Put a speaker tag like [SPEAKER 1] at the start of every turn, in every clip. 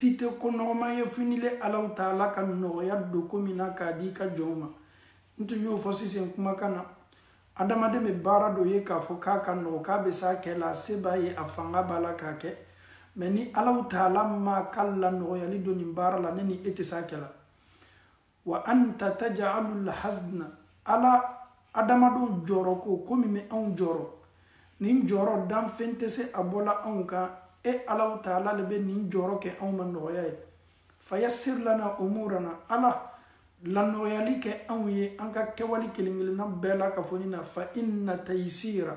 [SPEAKER 1] si tɛ ko nɔgɔman ye fo n'ile alaw taala ka nɔgɔya don ko min na k'a di i ka jɔnw ma n tun y'o fɔ sisan kumakan na adamaden bɛ baara dɔ ye k'a fɔ k'a ka nɔgɔ k'a bɛ s'a kɛ la a se b'a ye a fanga b'a la k'a kɛ mais ni alaw taala m'a ka lanɔgɔyali don nin baara la ne ni e tɛ s'a kɛ la wa anta tajalu lhasna ala adamadenw jɔrɔ ko ko min bɛ anw jɔrɔ nin jɔrɔ danfɛn tɛ se a bɔ la anw kan e alaw taala le bɛ nin jɔrɔ kɛ anw ma nɔgɔya ye fayasir lana umurana ala lanɔgɔyali kɛ anw ye an ka kɛwale kelen kelenna bɛɛ lakafonin na fa inna tayisira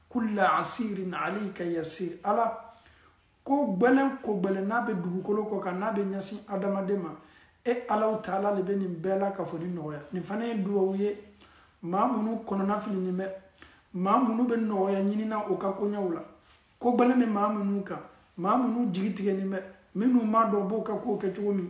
[SPEAKER 1] kulla asirin alayka yasir ala ko gbɛlɛn ko gbɛlɛn n'a bɛ dugukolo kɔ kan n'a bɛ ɲɛsin adamaden ma e alaw taala le bɛ nin bɛɛ lakafonin nɔgɔya nin fana ye duwawu ye maa minnu kɔnɔna filinin bɛ maa minnu bɛ nɔgɔya ɲinina o ka koɲɛw la ko gbɛlɛn bɛ maa minnu kan maa minnu jigi tigɛnin bɛ minnu m'a dɔn b'o ka kow kɛ cogo min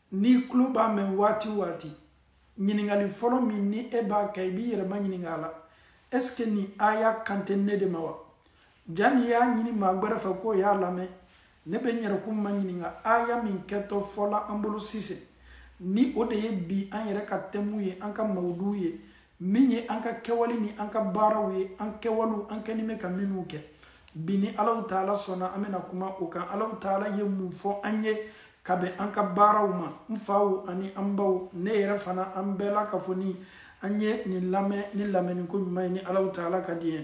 [SPEAKER 1] n'i tulo b'a mɛn waati waati ɲininkali fɔlɔ min ni e b'a kɛ i b'i yɛrɛ ma ɲininka a la est-ce que nin aya kan tɛ ne de ma wa jan'i y'a ɲini maa gbɛrɛ fɛ k'o y'a lamɛn ne bɛ n yɛrɛkun ma ɲininka aya min kɛtɔ fɔ la an bolo sisan nin o de ye bi an yɛrɛ ka tɛmu ye an ka mawuduw ye min ye an ka kɛwale ni an ka baaraw ye an kɛwalew an kɛnin bɛ ka minnu kɛ bi ni alaw taala sɔnna an bɛna kuma o kan alaw taala ye mun fɔ an ye ka bɛn an ka baaraw ma n faw ani an baw ne yɛrɛ fana an bɛɛ lakafonin an ye nin lamɛn ni lamɛnniko ɲuman ye ni alaw taala ka diɲɛ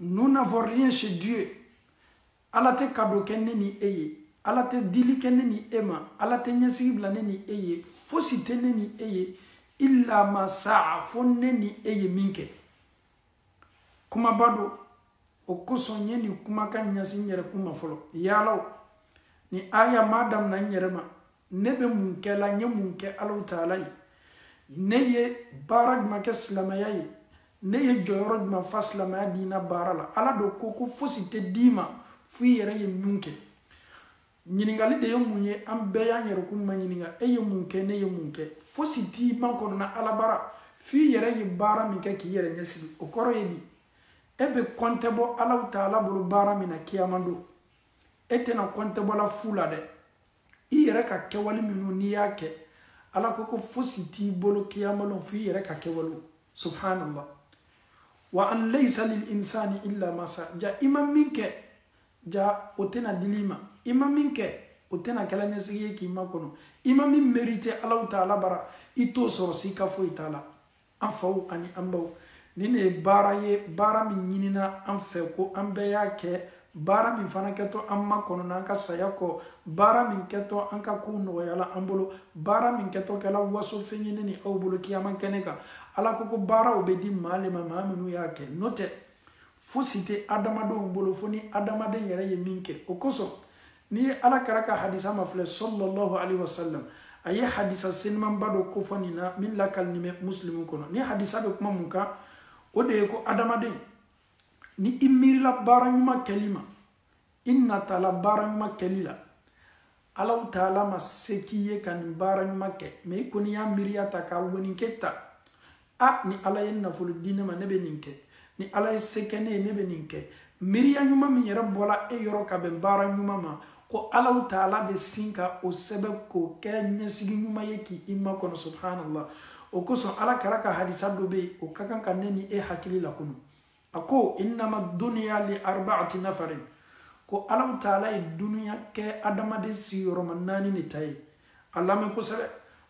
[SPEAKER 1] nous n'avons rien chez Dieu ala tɛ kado kɛ ne ni e ye ala tɛ dili kɛ ne ni e ma ala tɛ ɲɛsigi bila ne ni e ye fosi tɛ ne ni e ye illa ma saa fo ne ni e ye min kɛ kumaba don o kosɔn n ye nin kumakan ɲɛsin n yɛrɛ kun ma fɔlɔ yaala nin aya ma damina n yɛrɛ ma ne bɛ mun kɛ la n ye mun kɛ alaw taala ye ne ye baara jumɛn kɛ silamɛya ye ne ye jɔyɔrɔ jumɛn fa silamɛya diina baara la ala de ko ko fosi tɛ d'i ma fo i yɛrɛ ye min kɛ ɲininkali de ye mun ye an bɛɛ y'an yɛrɛkun ma ɲininka e ye mun kɛ ne ye mun kɛ fosi t'i makɔnɔ na ala bara fo i yɛrɛ ye baara min kɛ k'i yɛrɛ ɲɛsigi o kɔrɔ ye di e bɛ kɔntɛ bɔ alaw taala bolo baara min na kiyama don e tɛna kɔntɛbɔla fu la dɛ i yɛrɛ ka kɛwale minnu n'i y'a kɛ ala ko ko fosi t'i bolo kiyamalon fo i yɛrɛ ka kɛwalew subhanallah wa an laysa lil insani illa ma saa ja i ma min kɛ ja o tɛna dil'i ma i ma min kɛ o tɛna kɛla ɲɛsigi ye k'i makɔnɔ i ma min merite alahu taala bara i t'o sɔrɔ sika foyi t'a la an faw ani an baw nin ne ye baara ye baara min ɲinina an fɛ ko an bɛɛ y'a kɛ baara min fana kɛtɔ an makɔnɔna an ka saya kɔ baara min kɛtɔ an ka kow nɔgɔyala an bolo baara min kɛtɔ kɛla wasofɛn ye ne ni aw bolo kiyama kɛnɛ kan ala ko ko baaraw bɛ di maa le ma maa minnu y'a kɛ n'o tɛ fosi tɛ adamadenw bolo fo ni adamaden yɛrɛ ye min kɛ o kosɔn n'i ye ala kira ka hadisa mafilɛ sallallahu alaihi wasallam a ye hadisa senimanba dɔ kofɔ nin na min lakalinin bɛ musilimu kɔnɔ nin hadisa bɛ kuma mun kan o de ye ko adamaden ni i miirila baara ɲuman kɛli ma i natala baara ɲuman kɛli la alahu taala ma se k'i ye ka nin baara ɲuman kɛ mɛ i kɔni y'a miiriya ta ka woninkɛ ta a ni ala ye nafolo di ne ma ne bɛ nin kɛ ni ala ye se kɛ ne ye ne bɛ nin kɛ miiriya ɲuman min yɛrɛ bɔra e yɔrɔ ka bɛn baara ɲuman ma ko alahu taala bɛ sin ka o sɛbɛn k'o kɛ ɲɛsigi ɲuman ye k'i makɔnɔ subhanallah o kosɔn ala kira ka hadisa dɔ bɛ yen o ka kan ka ne ni e hakili lakunu a ko innama duniya li arbaati nafarin ko alahu taala ye duniya kɛ adamaden sigiyɔrɔma naani le ta ye a lamɛn kosɛbɛ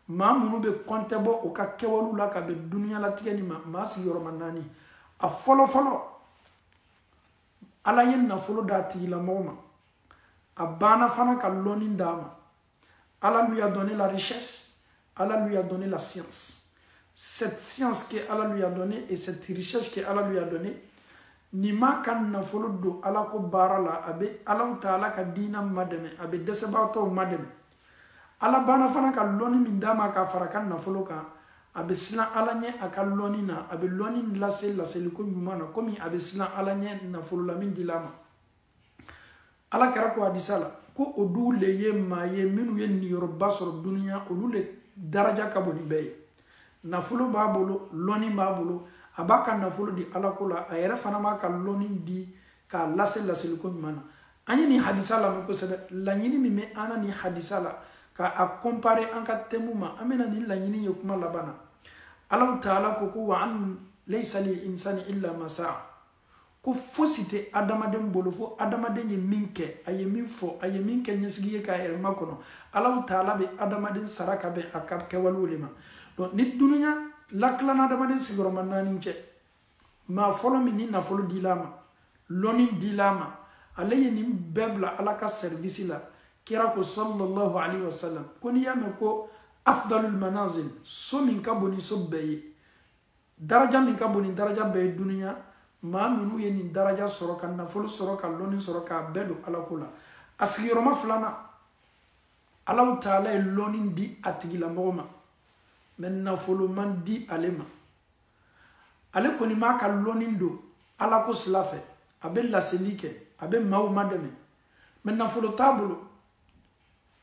[SPEAKER 1] maa minnu bɛ kɔntɛ bɔ u ka kɛwalew la ka bɛn duniyalatigɛ nin ma maa sigiyɔrɔma naani a fɔlɔ fɔlɔ ala ye nafolo d'a tigilamɔgɔ ma a banna fana ka lɔnni d'a ma Allah lui a donné la richesse, Allah lui a donné la science. Cette science que Allah lui a donnée et cette richesse que Allah lui a donnée, nin b'a ka nafolo don ala ko baara la a bɛ alahu taala ka diina madɛmɛ a bɛ dɛsɛbagatɔw madɛmɛ ala banna fana ka lɔnni min d'a ma k'a fara ka nafolo kan a bɛ siran ala ɲɛ a ka lɔnni na a bɛ lɔnni lase laseliko ɲuman na komi a bɛ siran ala ɲɛ nafolo la min dila a ma ala kira ko hadisa la ko olu le ye maa ye minnu ye niyɔrɔba sɔrɔ duniya olu le daraja ka bon ni bɛɛ ye nafolo b'a bolo lɔnni b'a bolo a b'a ka nafolo di ala ko la a yɛrɛ fana b'a ka lɔnni di k'a lase laseliko ɲuman na an ye nin hadisa lamɛn kosɛbɛ laɲini min bɛ an na nin hadisa la ka a kɔnpare an ka tɛmu ma an bɛna nin laɲini ye kuma laban na alahu taala ko ko wa an laysa lil insani illa ma saa ko fosi tɛ adamaden bolo fo adamaden ye min kɛ a ye min fɔ a ye min kɛ ɲɛsigi ye k'a yɛrɛ makɔnɔ alahu taala bɛ adamaden sara ka bɛn a ka kɛwalew de ma donc ni dunuya latilana adamaden sigiyɔrɔma naani cɛ maa fɔlɔ min ni nafolo dila a ma lɔni dila a ma ale ye nin bɛɛ bila ala ka sɛrivisi la kira ko sallallahu alaihi wasallam ko n'i y'a mɛn ko afdalul manazil so min ka bon ni so bɛɛ ye daraja min ka bon ni daraja bɛɛ ye dunuya maa minnu ye nin daraja sɔrɔ ka nafolo sɔrɔ ka lɔnni sɔrɔ k'a bɛɛ don ala ko la a sigiyɔrɔma filanan alahu taala ye lɔnni di a tigilamɔgɔ ma mɛ nafolo ma di ale ma ale kɔni b'a ka lɔnni don ala ko sila fɛ a bɛ laseli kɛ a bɛ maaw madɛmɛ mɛ nafolo t'a bolo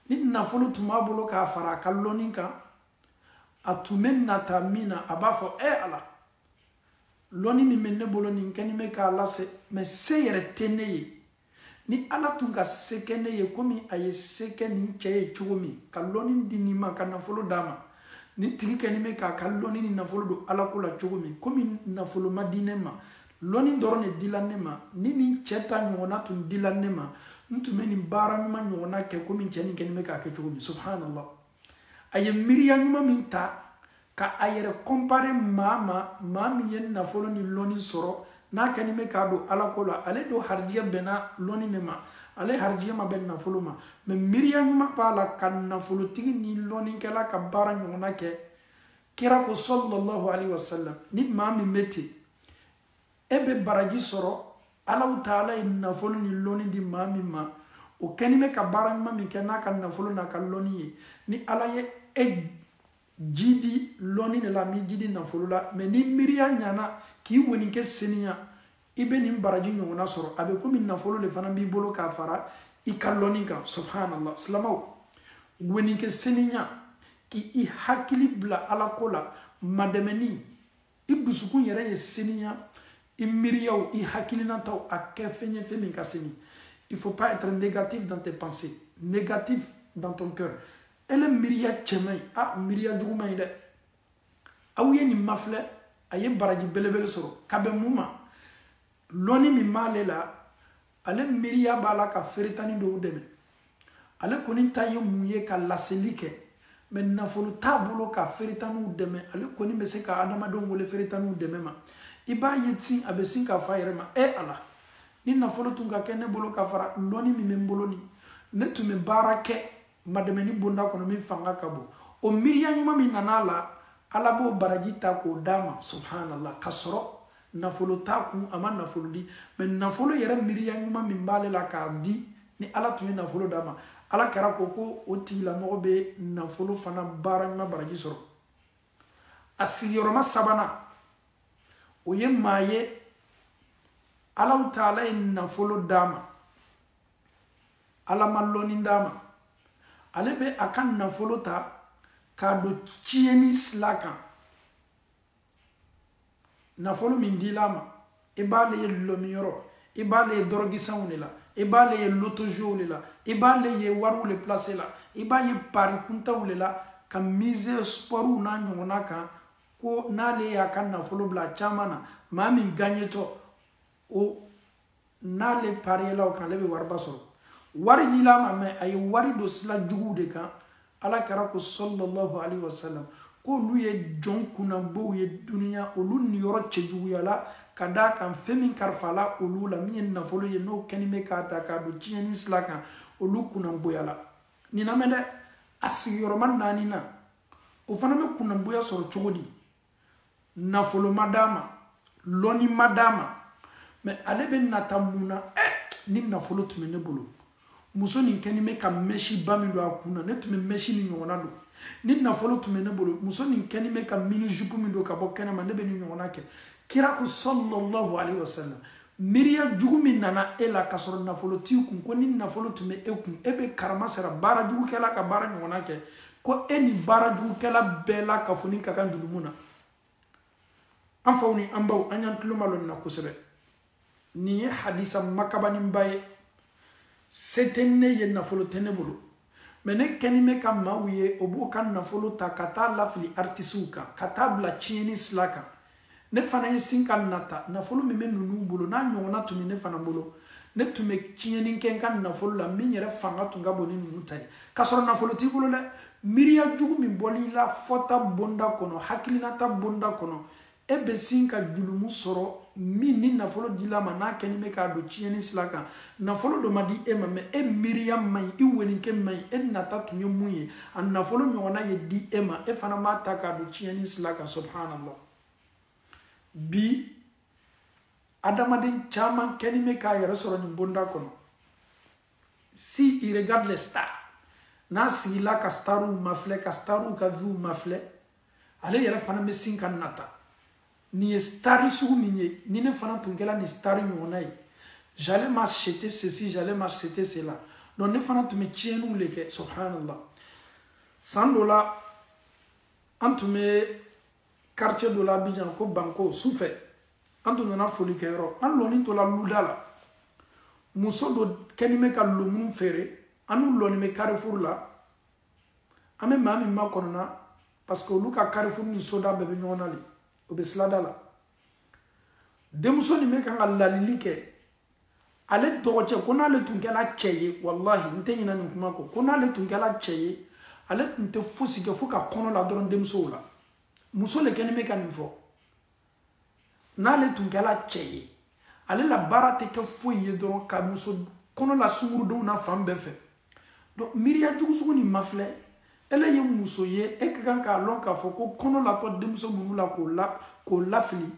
[SPEAKER 1] ni nafolo tun b'a bolo k'a fara a ka lɔnni kan a tun bɛ nata min na a b'a fɔ e ala lɔnni min bɛ ne bolo nin kɛni bɛ k'a lase mɛ se yɛrɛ tɛ ne ye ni ala tun ka se kɛ ne ye komi a ye se kɛ nin cɛ ye cogo min ka lɔnni di nin ma ka nafolo d'a ma nin tigi kɛni bɛ k'a ka lɔnni ni nafolo don ala ko la cogo min komi nafolo ma di ne ma lɔnni dɔrɔn de dila ne ma ni nin cɛ ta ɲɔgɔnna tun dila ne ma n tun bɛ nin baara ɲuman ɲɔgɔnna kɛ komi cɛ nin kɛni bɛ k'a kɛ cogo min subhanallah a ye miiriya ɲuman min ta ka a yɛrɛ kɔnpare maa ma maa min ye nafolo ni lɔni sɔrɔ n'a kɛni bɛ k'a don ala ko la ale dun harijigɛ bɛnna lɔni de ma ale harijigɛ ma bɛn nafolo ma mɛ miiriya ɲuman b'a la ka nafolotigi ni lɔnikɛla ka baara ɲɔgɔnna kɛ kira ko sallallahu alaihi wasallam ni maa min bɛ ten e bɛ baraji sɔrɔ alahu taala ye nafolo ni lɔni di maa min ma o kɛni bɛ ka baara ɲuman min kɛ n'a ka nafolo n'a ka lɔni ye ni ala ye e jiidi lɔni de la m'i jiidi nafolo la mɛ ni miiriya ɲana k'i woni kɛ seniya i bɛ nin baraji ɲɔgɔnna sɔrɔ a bɛ komi nafolo de fana b'i bolo k'a fara i ka lɔni kan subhanallah silamaw woni kɛ seniya k'i hakili bila ala ko la madɛmɛni i dusukun yɛrɛ ye seniya i miiriyaw i hakilinataw a kɛ fɛn ye fɛn min ka seni il faut pas être négatif dans tes pensées négatif dans ton cœur ele miiriya cɛ man ɲi a miiriya jugu man ɲi dɛ aw ye nin mafilɛ a ye baraji belebele sɔrɔ ka bɛn mun ma lɔnni min b'ale la ale miiriya b'a la ka feeretani dɔw dɛmɛ ale kɔni ta ye mun ye ka laseli kɛ mɛ nafolo t'a bolo ka feeretaniw dɛmɛ ale kɔni bɛ se ka adamadenw wele feeretaniw dɛmɛ ma i b'a ye ten a bɛ sin k'a fɔ a yɛrɛ ma e ala ni nafolo tun ka kɛ ne bolo ka fara lɔnni min bɛ n bolo nin ne tun bɛ baara kɛ madɛmɛni bonda kɔnɔ min fanga ka bon o miiriya ɲuman min nana a la ala b'o baraji ta k'o d'a ma subhanallah k'a sɔrɔ nafolo t'a kun a ma nafolo di mɛ nafolo yɛrɛ miiriya ɲuman min b'ale la k'a di ni ala tun ye nafolo d'a ma ala kira ko ko o tigilamɔgɔ bɛ nafolo fana baara ɲuman baraji sɔrɔ a sigiyɔrɔma sabanan o ye maa ye allahu taala ye nafolo d'a ma ala ma lɔnni d'a ma ale bɛ a ka nafolo ta k'a don tiɲɛni sila kan nafolo min dila a ma i b'ale ye dɔlɔminyɔrɔ i b'ale ye dɔrɔgisanw de la i b'ale ye lotozow de la i b'ale ye wariw de place la i b'a ye pari kuntanw de la ka mise spɔriw n'a ɲɔgɔnna kan ko n'ale y'a ka nafolo bila a caman na maa min gaɲetɔ o n'ale pariyela o kan ale bɛ wariba sɔrɔ wari dila a ma mɛ a ye wari don sila juguw de kan ala kira ko sallallahu alayhi wa sallam k'olu ye jɔn kunnabow ye duniɲa olu niyɔrɔ cɛjuguyala ka d'a kan fɛn min kalifala olu la min ye nafolo ye n'o kɛni bɛ k'a ta k'a don tiɲɛni sila kan olu kunnaboyala nin lamɛn dɛ a sigiyɔrɔma naaninan o fana bɛ kunnaboya sɔrɔ cogo di nafolo ma d'a ma lɔnni ma d'a ma mɛ ale bɛ nata mun na ɛ eh, ni nafolo tun bɛ ne bolo muso nin kɛni bɛ ka mɛsiba min don a kun na ne tun bɛ mɛsi nin ɲɔgɔnna don ni nafolo tun bɛ ne bolo muso nin kɛni bɛ ka mini jupu min don ka bɔ kɛnɛma ne bɛ nin ɲɔgɔnna kɛ kira ko sallallahu alaihi wasallam miiriya jugu min nana e la k'a sɔrɔ nafolo t'i kun ko ni nafolo tun bɛ e kun e bɛ karama sera baara jugukɛla ka baara ɲɔgɔnna kɛ ko e ni baara jugukɛla bɛɛ lakafoni ka kan jurumu na an faw ni an baw an y'an tulomalɔ nin na kosɛbɛ nin ye hadisa makabaninba ye se tɛ ne ye nafolo tɛ ne bolo mɛ ne kɛni bɛ ka maaw ye o b'o ka nafolo ta ka taa lafili aritisiw kan ka taa bila tiɲɛni sila kan ne fana ye sin ka nata nafolo min bɛ ninnu bolo n'a ɲɔgɔnna tun bɛ ne fana bolo ne tun bɛ tiɲɛni kɛ n ka nafolo la min yɛrɛ fanga tun ka bon ni ninnu ta ye k'a sɔrɔ nafolo t'i bolo dɛ miiriya jugu min bolila fɔta bonda kɔnɔ hakilinata bonda kɔnɔ e bɛ sin ka julumu sɔrɔ min ni nafolo dila a ma n'a kɛni bɛ k'a don tiɲɛni sila kan nafolo dɔ ma di e ma mɛ e miiriya man ɲi i weninkɛ man ɲi e nata tun ye mun ye a nafolo ɲɔgɔnna ye di e ma e fana b'a ta k'a don tiɲɛni sila kan subhanallah bi adamaden caman kɛni bɛ k'a yɛrɛ sɔrɔ nin bonda kɔnɔ s'il regarde les stars n'a sigila ka stariw mafilɛ ka stariw ka viw mafilɛ ale yɛrɛ fana bɛ sin ka nata nin ye stari sugu min ye ni ne fana tun kɛra nin stari ɲɔgɔnna ye j'allais m'acheter ceci j'allais m'acheter cela donc ne fana tun bɛ tiɲɛniw de kɛ subhanallah san dɔ la an tun bɛ quartier dɔ la Abidjan ko Banko sufɛ an tun nana foli kɛ yɔrɔ an lɔni tola luda la muso dɔ kɛni bɛ ka lomuru feere an lɔni bɛ carrefour la an bɛ maa min makɔnɔna parce que olu ka carrefour ni soda bɛɛ bɛ ɲɔgɔn na le o bɛ silada la denmuso nin bɛ kan ka lalili kɛ ale dɔgɔcɛ ko n'ale tun kɛla cɛ ye walahi n tɛ ɲina nin kuma kɔ ko n'ale tun kɛla cɛ ye ale tun tɛ fosi kɛ fo ka kɔnɔ la dɔrɔn denmusow la muso le kɛni bɛ ka nin fɔ n'ale tun kɛla cɛ ye ale la baara tɛ kɛ foyi ye dɔrɔn ka muso kɔnɔ la sungurudenw na fan bɛɛ fɛ donc miiriya jugu sugu nin mafilɛ ele ye muso ye e ka kan k'a lɔn k'a fɔ ko kɔnɔ latɔ denmuso minnu la k'o la k'o lafili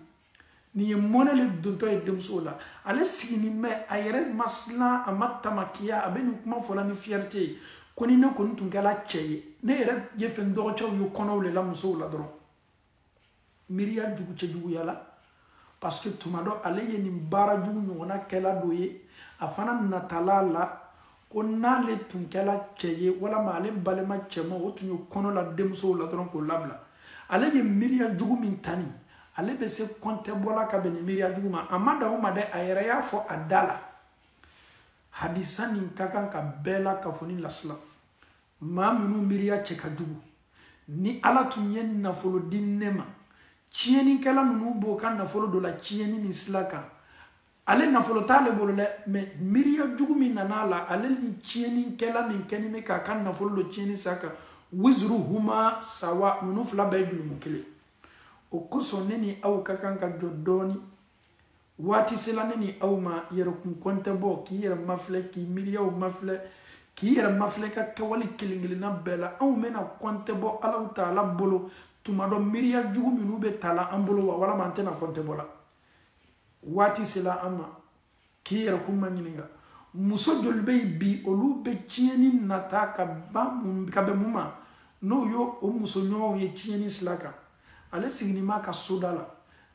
[SPEAKER 1] nin ye mɔnɛ le dontɔ ye denmusow la ale sigini bɛ a yɛrɛ ma silan a ma tamakiya a bɛ nin kuma fɔla ni fierté ye ko ni ne kɔni tun kɛla cɛ ye ne yɛrɛ y'a fɛ n dɔgɔcɛw ye kɔnɔw le la musow la dɔrɔn miiriya jugu cɛjuguya la parce que tuma dɔ ale ye nin baara jugu ɲɔgɔnna kɛla dɔ ye a fana natala a la ko n'ale tun kɛla cɛ ye walama ale balima cɛma o tun ye kɔnɔ la denmusow la dɔrɔn k'o labila ale ye miiriya jugu min ta nin ale bɛ se kɔntɛbɔ la ka bɛn nin miiriya jugu ma a ma dan o ma dɛ a yɛrɛ y'a fɔ a da la hadisa nin ka kan ka bɛɛ lakafoni lasilan maa minnu miiriya cɛ ka jugu ni ala tun ye nafolo di ne ma tiɲɛnikɛla ninnu b'o ka nafolo donna tiɲɛni min sila kan ale nafolo t'ale bolo dɛ mais miiriya jugu min nana a la ale ni tiɲɛnikɛla min kɛni bɛ k'a ka nafolo don tiɲɛni sila kan wizuruhuma sawa ninnu fila bɛɛ ye jurumu kelen o kosɔn ne ni aw ka kan ka jɔ dɔɔni waati sela ne ni aw ma yɛrɛkun kɔntɛbɔ k'i yɛrɛ mafilɛ k'i miiriyaw mafilɛ k'i yɛrɛ mafilɛ ka kɛwale kelen kelenna bɛɛ la anw bɛna kɔntɛbɔ alahu taala bolo tuma dɔ miiriya jugu minnu bɛ tala an bolo wa walama an tɛna kɔntɛbɔ la waati sela an ma k'i yɛrɛkun maɲininka muso joli bɛ yen bi olu bɛ tiɲɛni nata ka ban mun ka bɛn mun ma n'o y'o muso ɲɔgɔnw ye tiɲɛni sila kan ale sigini b'a ka soda la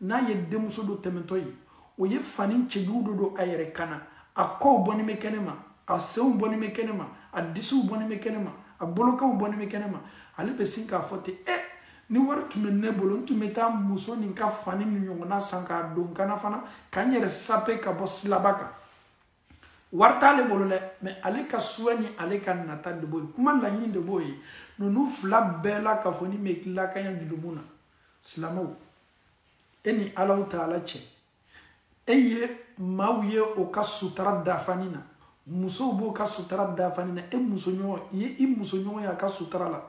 [SPEAKER 1] n'a ye denmuso dɔ tɛmɛtɔ ye o ye fani cɛjugu dɔ don a yɛrɛ kan na a kɔw bɔni bɛ kɛnɛ ma a senw bɔni bɛ kɛnɛ ma a disiw bɔni bɛ kɛnɛ ma a bolokanw bɔni bɛ kɛnɛ ma ale bɛ sin k'a fɔ ten eh, ni wari tun bɛ ne bolo n tun bɛ taa muso nin ka fani nin ɲɔgɔnna san k'a don n kan na fana ka n yɛrɛ sape ka bɔ silaba kan wari t'ale bolo dɛ mɛ ale ka souhait ni ale ka nata de b'o ye kuma laɲini de b'o ye ninnu fila bɛɛ la k'a fɔ ni bɛ tilakanya jurumu na silamɛw e ni alahu taala cɛ e ye maaw ye o ka sutara dafani na musow b'o ka sutara dafani na e musoɲɔgɔn i ye i musoɲɔgɔn y'a ka sutara la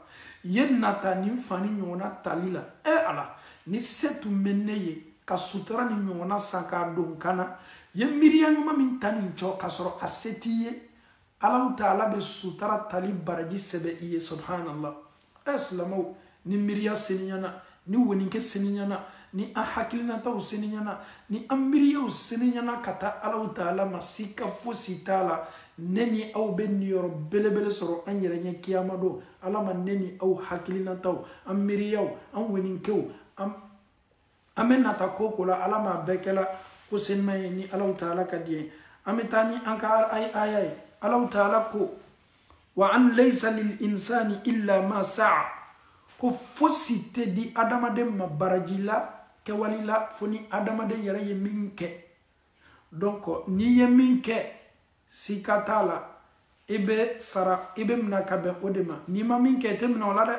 [SPEAKER 1] i ye nata nin fani ɲɔgɔnna tali la e ala ni se tun bɛ ne ye ka sutura nin ɲɔgɔnna san k'a don kan na i ye miiriya ɲuman min ta nin jɔ k'a sɔrɔ a se t'i ye alahu taala bɛ sutura tali baraji sɛbɛn i ye subhanallah ɛ silamɛw ni miiriya seniyana ni woninkɛ seniyana ni an hakilinataw seniyana ni an miiriyaw seniyana ka taa alahu taala ma sika fosi t'a la ne ni aw bɛ niyɔrɔ belebele sɔrɔ an yɛrɛ ɲɛ kiyama don ala ma ne ni aw hakilinataw an miiriyaw an woninkɛw an an bɛ nata ko o ko la ala m'a bɛɛ kɛla ko senima ye ni alahu taala ka di ye an bɛ taa ni an ka aya ye alahu taala ko wa an laysa lil insani illa ma saa ko fosi tɛ di adamaden ma baraji la kɛwali la fo ni adamaden yɛrɛ ye min kɛ donc n'i ye min kɛ sika t'a la i bɛ sara i bɛ minɛ ka bɛn o de ma n'i ma min kɛ i tɛ minɛ o la dɛ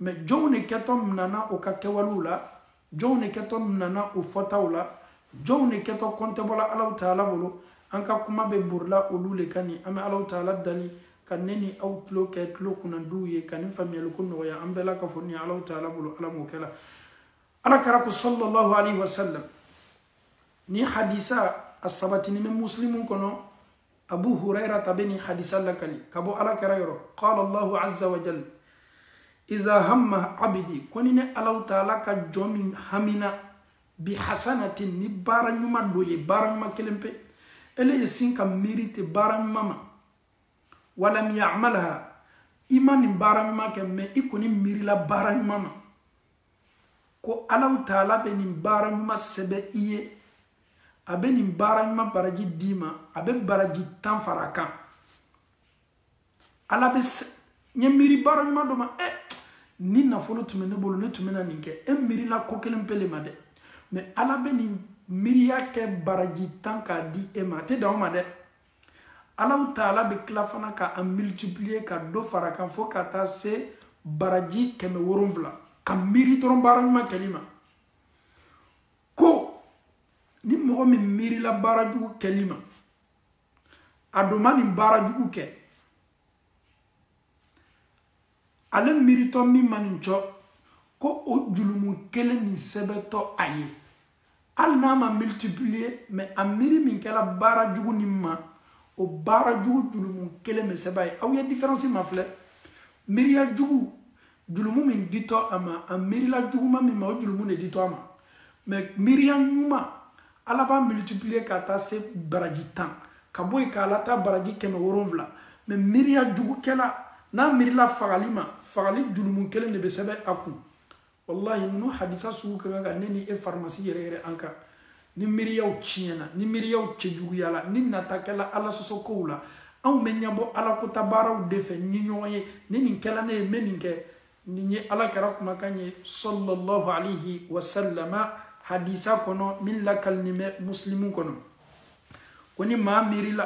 [SPEAKER 1] mɛ jɔnw de kɛtɔ minɛna u ka kɛwalew la jɔnw de kɛtɔ minɛna u fɔtaw la jɔnw de kɛtɔ kɔntɛbɔla alahu taala bolo an ka kuma bɛ borila olu de kan nin an bɛ alahu taala dali ka ne ni aw tulo kɛ tulo kunnadiw ye ka nin faamuyaliko nɔgɔya an bɛɛ la ka fɔ nin alahu taala bolo ala m'o kɛla ala kira ko sallallahu alaihi wasallam nin hadisa a sabatinin bɛ muslimu kɔnɔ abu hurairata bɛ nin hadisa lakali ka bɔ ala kira yɔrɔ qala allahu azza wa jal iza hamma abdi ko ni ne alahu taala ka jɔn min hamina bi hasanatin ni baara ɲuman dɔ ye baara ɲuman kelen pe ele ye sin ka miiri ten baara ɲuman ma walam yamalha i ma nin baara ɲuman kɛ mɛ i kɔni miirila baara ɲuman ma ko alahu taala bɛ nin baara ɲuman sɛbɛn i ye a bɛ nin baara ɲuman baraji d'i ma a bɛ baraji tan fara kan ala bɛ n ye miiri baara ɲuman dɔ ma ɛ eh, ni nafolo tun bɛ ne bolo ne tun bɛna nin kɛ e eh, miirila ko kelen pele ma dɛ mɛ ala bɛ nin miiriya kɛ baraji tan k'a di e ma a tɛ dan o ma dɛ alahu taala bɛ tila fana ka a multiplier ka dɔ fara kan fo ka taa se baraji kɛmɛ wolonwula ka miiri dɔrɔn baara ɲuman kɛli ma ko ni mɔgɔ min miirila baara jugu kɛli ma a dun ma nin baara jugu kɛ ale miiritɔ min ma nin cogo o julumu kelen nin sɛbɛntɔ a ye hali n'a ma multiplier mɛ a miiri min kɛla baara jugu nin ma o baara jugu julumu kelen bɛ sɛbɛn a ye aw ye diferansi mafilɛ miiriya jugu julumu min ditɔ a ma a miirila juguma min ma o julumu de ditɔ a ma mɛ miiriya ɲuman ala b'a multiplier ka taa se baraji tan ka bɔ yen k'a lataa baraji kɛmɛ wolonwula mɛ miiriya jugukɛla n'a miirila fagali ma fagali julumu kelen de bɛ sɛbɛn a kun walahi ninnu hadisa sugu ka kan ka ne ni e farimasi yɛrɛyɛrɛ an kan ni miiriyaw tiɲɛna ni miiriyaw cɛjuguyala ni nata kɛla ala sɔsɔkow la anw bɛ ɲɛbɔ ala kɔnta baaraw de fɛ ni ɲɔgɔn ye ni nin kɛla ne ye n bɛ nin kɛ nin ye ala kira kumakan ye sɔlɔlɔhu alihi wasalama hadisa kɔnɔ min lakalinin bɛ musilimu kɔnɔ ko ni maa miirila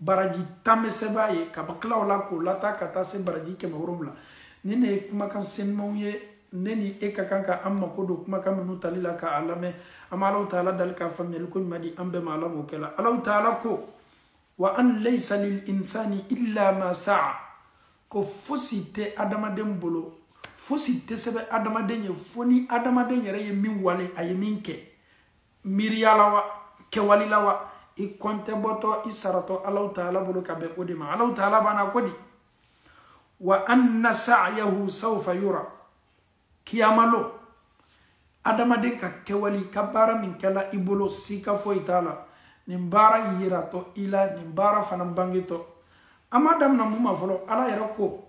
[SPEAKER 1] baraji tan bɛ sɛbɛn ye ka tila o la k'o lataa ka taa se baraji kɛmɛ wolonwula ninnu ye kumakan senumanw ye ne ni e ka kan ka an mako don kumakan minnu tali la k'a lamɛn an bɛ alahu taala dali ka faamuyali koɲuman di an bɛɛ ma ala b'o kɛ la alahu taala ko wa an layisa lil insani illa ma saa ko fosi tɛ adamaden bolo fosi tɛ sɛbɛn adamaden ye fo ni adamaden yɛrɛ ye min wale a ye min kɛ miiriya la wa kɛwali la wa i kɔntɛ bɔtɔ i saratɔ alahu taala bolo ka bɛn o de ma alahu taala fana ko di wa anna sa'yahu sawfa yura kiyamalon adamaden ka kɛwali ka baara min kɛla i bolo sika foyi t'a la nin baara yiratɔ i la nin baara fana bangetɔ an m'a damina mun ma fɔlɔ ala yɛrɛ ko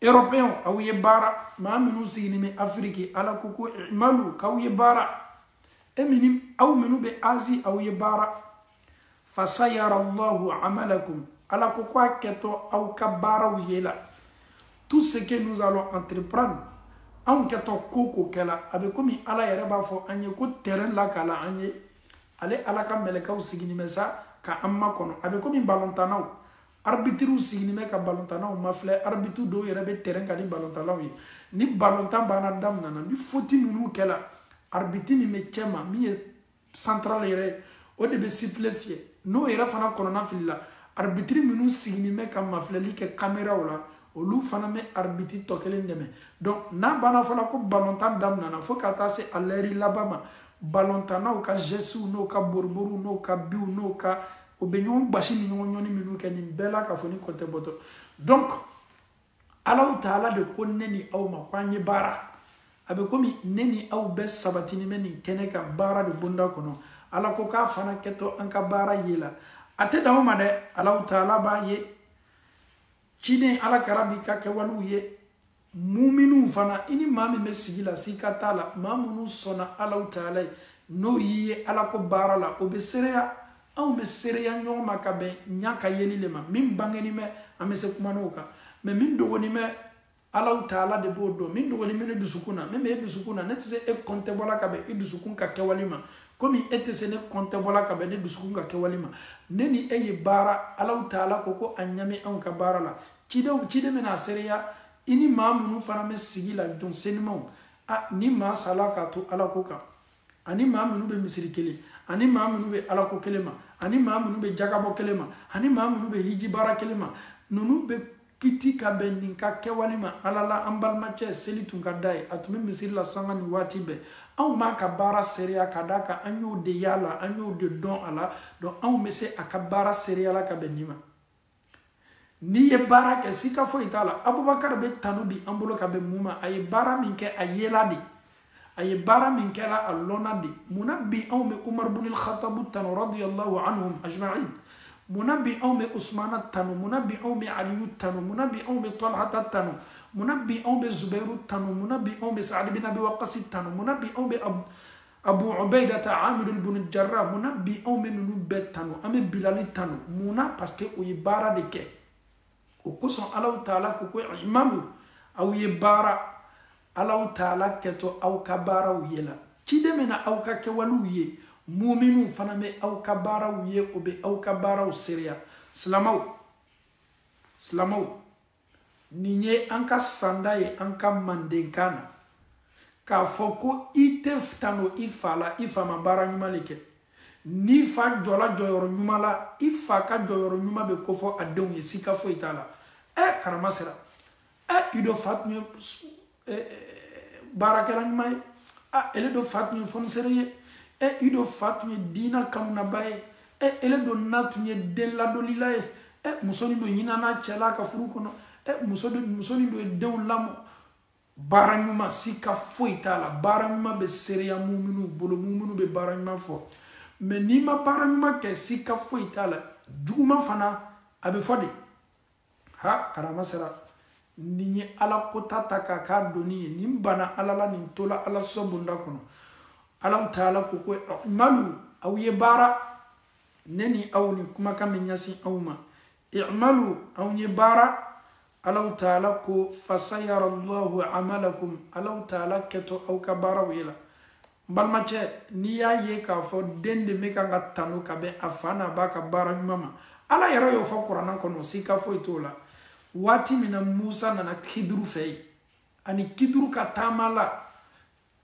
[SPEAKER 1] européenw aw ye baara maa minnu sigilen bɛ afiriki ala ko ko imalu k'aw ye baara e minnu aw minnu bɛ azi aw ye baara fasayara allahu amalakum ala ko ko a kɛtɔ aw ka baaraw ye la tout ce que nous allons entreprendre anw kɛtɔ ko o ko kɛ la a bɛ komi ala yɛrɛ b'a fɔ an ye ko terrain lakala an ye ale ala ka mɛlɛkɛw sigilen bɛ sa ka an makɔnɔ a bɛ komi balontannaw arbitriw sigilen bɛ ka balontannaw mafilɛ arbitre dɔw yɛrɛ bɛ terɛn kan ni balontannaw ye ni balontan fana daminɛna ni foti ninnu kɛla arbitre min bɛ cɛma min ye central yɛrɛ ye o de bɛ sifile fiyɛ n'o yɛrɛ fana kɔnɔnafilila arbitre minnu sigilen bɛ ka mafilɛli kɛ kameraw la olu fana bɛ arbitre tɔ kelen dɛmɛ donc n'a banna fana ko balontan daminɛna fo ka taa se a lɛri laban ma balontannaw ka gɛsiw n'o ka boriboriw n'o ka biw n'o ka o bɛ ɲɔgɔn gbasi ni ɲɔgɔn ɲɔni minnu kɛ nin bɛɛ la k'a fɔ nin ko tɛ bɔtɔ donc alaw taala de ko ne ni aw ma ko an ye baara a bɛ komi ne ni aw bɛɛ sabatini bɛ nin kɛnɛ kan baara de bonda kɔnɔ ala ko k'a fana kɛtɔ an ka baara ye la a tɛ dan o ma dɛ alaw taala b'a ye ciden ala kira b'i ka kɛwalew ye muminiw fana i ni maa min bɛ sigi la sika t'a la maa minnu sɔnna alaw taala ye n'o y'i ye alako baara la o bɛ seereya anw bɛ seereya ɲɔgɔn ma ka bɛn ɲa ka yeli le ma min bangeni bɛ an bɛ se kuma l'o kan mɛ min dogoni bɛ alaw taala de b'o dɔn min dogoni bɛ ne dusukun na min bɛ e dusukun na ne tɛ se e kɔntɛbɔla ka bɛn e dusukun ka kɛwale ma komi e tɛ se ne kɔntɛbɔla ka bɛn ne dusukun ka kɛwale ma ne ni e ye baara alaw taala ko ko a ɲa bɛ anw ka baara la cidenw ciden bɛna seereya i ni maa minnu fana bɛ sigi la jɔn senumanw a ni maa sala k'a to ala ko kan ani maa minnu bɛ misiri kelen ani maa minnu bɛ ala ko kelen ma ani maa minnu bɛ jakabɔ kelen ma ani maa minnu bɛ hiji baara kelen ma ninnu bɛ kiti ka bɛn nin ka kɛwale ma ala la an balimacɛ seli tun ka d'a ye a tun bɛ misiri la sanga nin waati bɛɛ anw b'a ka baara seereya ka d'a kan an y'o de y'a la an y'o de dɔn a la donc anw bɛ se a ka baara seereya la ka bɛn nin ma n'i ye baara kɛ sika foyi t'a la abubakar bɛ tanu bi an bolo ka bɛn mun ma a ye baara min kɛ a yela de a ye baara min kɛra a lɔnna de mun na bi anw bɛ umar bin al-khattabu tanu radiyallahu anhum ajma'in mun na bi anw bɛ usmana tanu mun na bi anw bɛ aliyu tanu mun na bi anw bɛ talhata tanu mun na bi anw bɛ zubairu tanu mun na bi anw bɛ sa'ad bin abi waqasi tanu mun na bi anw bɛ abu ubaidata amir ibn jarra mun na bi anw bɛ ninnu bɛɛ tanu an bɛ bilali tanu mun na parce que o ye baara de kɛ o kosɔn alaw taala ko ko i'malu aw ye baara alaw taala kɛtɔ aw ka baaraw ye la ciden bɛna aw ka kɛwalew ye muminiw fana bɛ aw ka baaraw ye o bɛ aw ka baaraw seereya silamaw silamaw nin ye an ka sanda ye an ka mandenkan na k'a fɔ ko i tɛ tando i fa la i fa ma baara ɲuman de kɛ n'i fa jɔla jɔyɔrɔ ɲuman la i fa ka jɔyɔrɔ ɲuman bɛ kofɔ a denw ye sika foyi t'a la ɛ karama sera ɛ i do fa tun ye baarakɛla ɲuman ye a ele do fa tun ye fɔnisere ye e i do fa tun ye diina kanunaba ye e ele do na tun ye den ladonlila ye e muso ni do ɲinana cɛla ka furu kɔnɔ e muso ni do ye denw lamɔ baara ɲuman sika foyi t'a la baara ɲuman bɛ seereya muminu bolo muminu bɛ baara ɲuman fɔ mɛ n'i ma baara ɲuman kɛ sika foyi t'a la juguman fana a bɛ fɔ de ha karama sera nin ye ala kota ta k'a k'a doni ye nin bana ala la nin tola ala sɔsɔ bonda kɔnɔ alaw taala ko ko i'malu aw ye baara ne ni aw ni kumakan min ɲasin aw ma i'malu aw ye baara alaw taala ko fasayara allahu amalakum alaw taala kɛtɔ aw ka baaraw ye la n balimacɛ n'i y'a ye k'a fɔ den de bɛ kan ka tanu ka bɛn a fa n'a ba ka baara ɲuman ma ala yɛrɛ y'o fɔ kurana kɔnɔ sika foyi t'o la waati min na musa nana kiduru fɛ yen ani kiduru ka taama la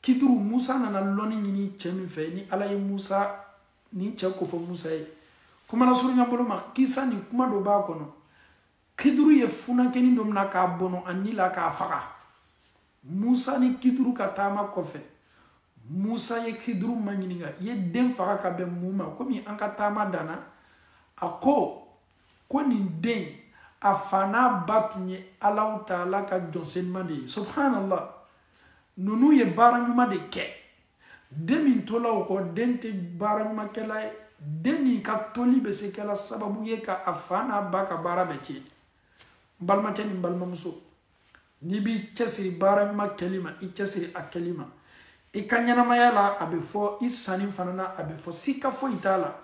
[SPEAKER 1] kiduru musa nana lɔni ɲini cɛ min fɛ ni ala ye musa ni cɛ ko fɔ musa ye kuma lasurunya bolo ma kisa ni kuma dɔ b'a kɔnɔ kiduru ye funankɛni dɔ mina k'a bɔnɔ a ni la k'a faga musa ni kiduru ka taama kɔfɛ musa ye kiduru ma ɲininka i ye den faga ka bɛn mun ma komi an ka taama danna a ko ko nin den a fa n'a ba tun ye alaw taala ka jɔn senuma de ye subhanallah ninnu ye baara ɲuman de kɛ den min tola o kɔ den tɛ baara ɲumankɛla ye den nin ka toli bɛ se kɛla sababu ye ka a fa n'a ba ka baara bɛɛ tiɲɛ n balimacɛ ni n balimamuso n'i b'i cɛsiri baara ɲuman kɛli ma i cɛsiri a kɛli ma i ka ɲɛnamaya la a bɛ fɔ i sanin fana na a bɛ fɔ sika foyi t'a la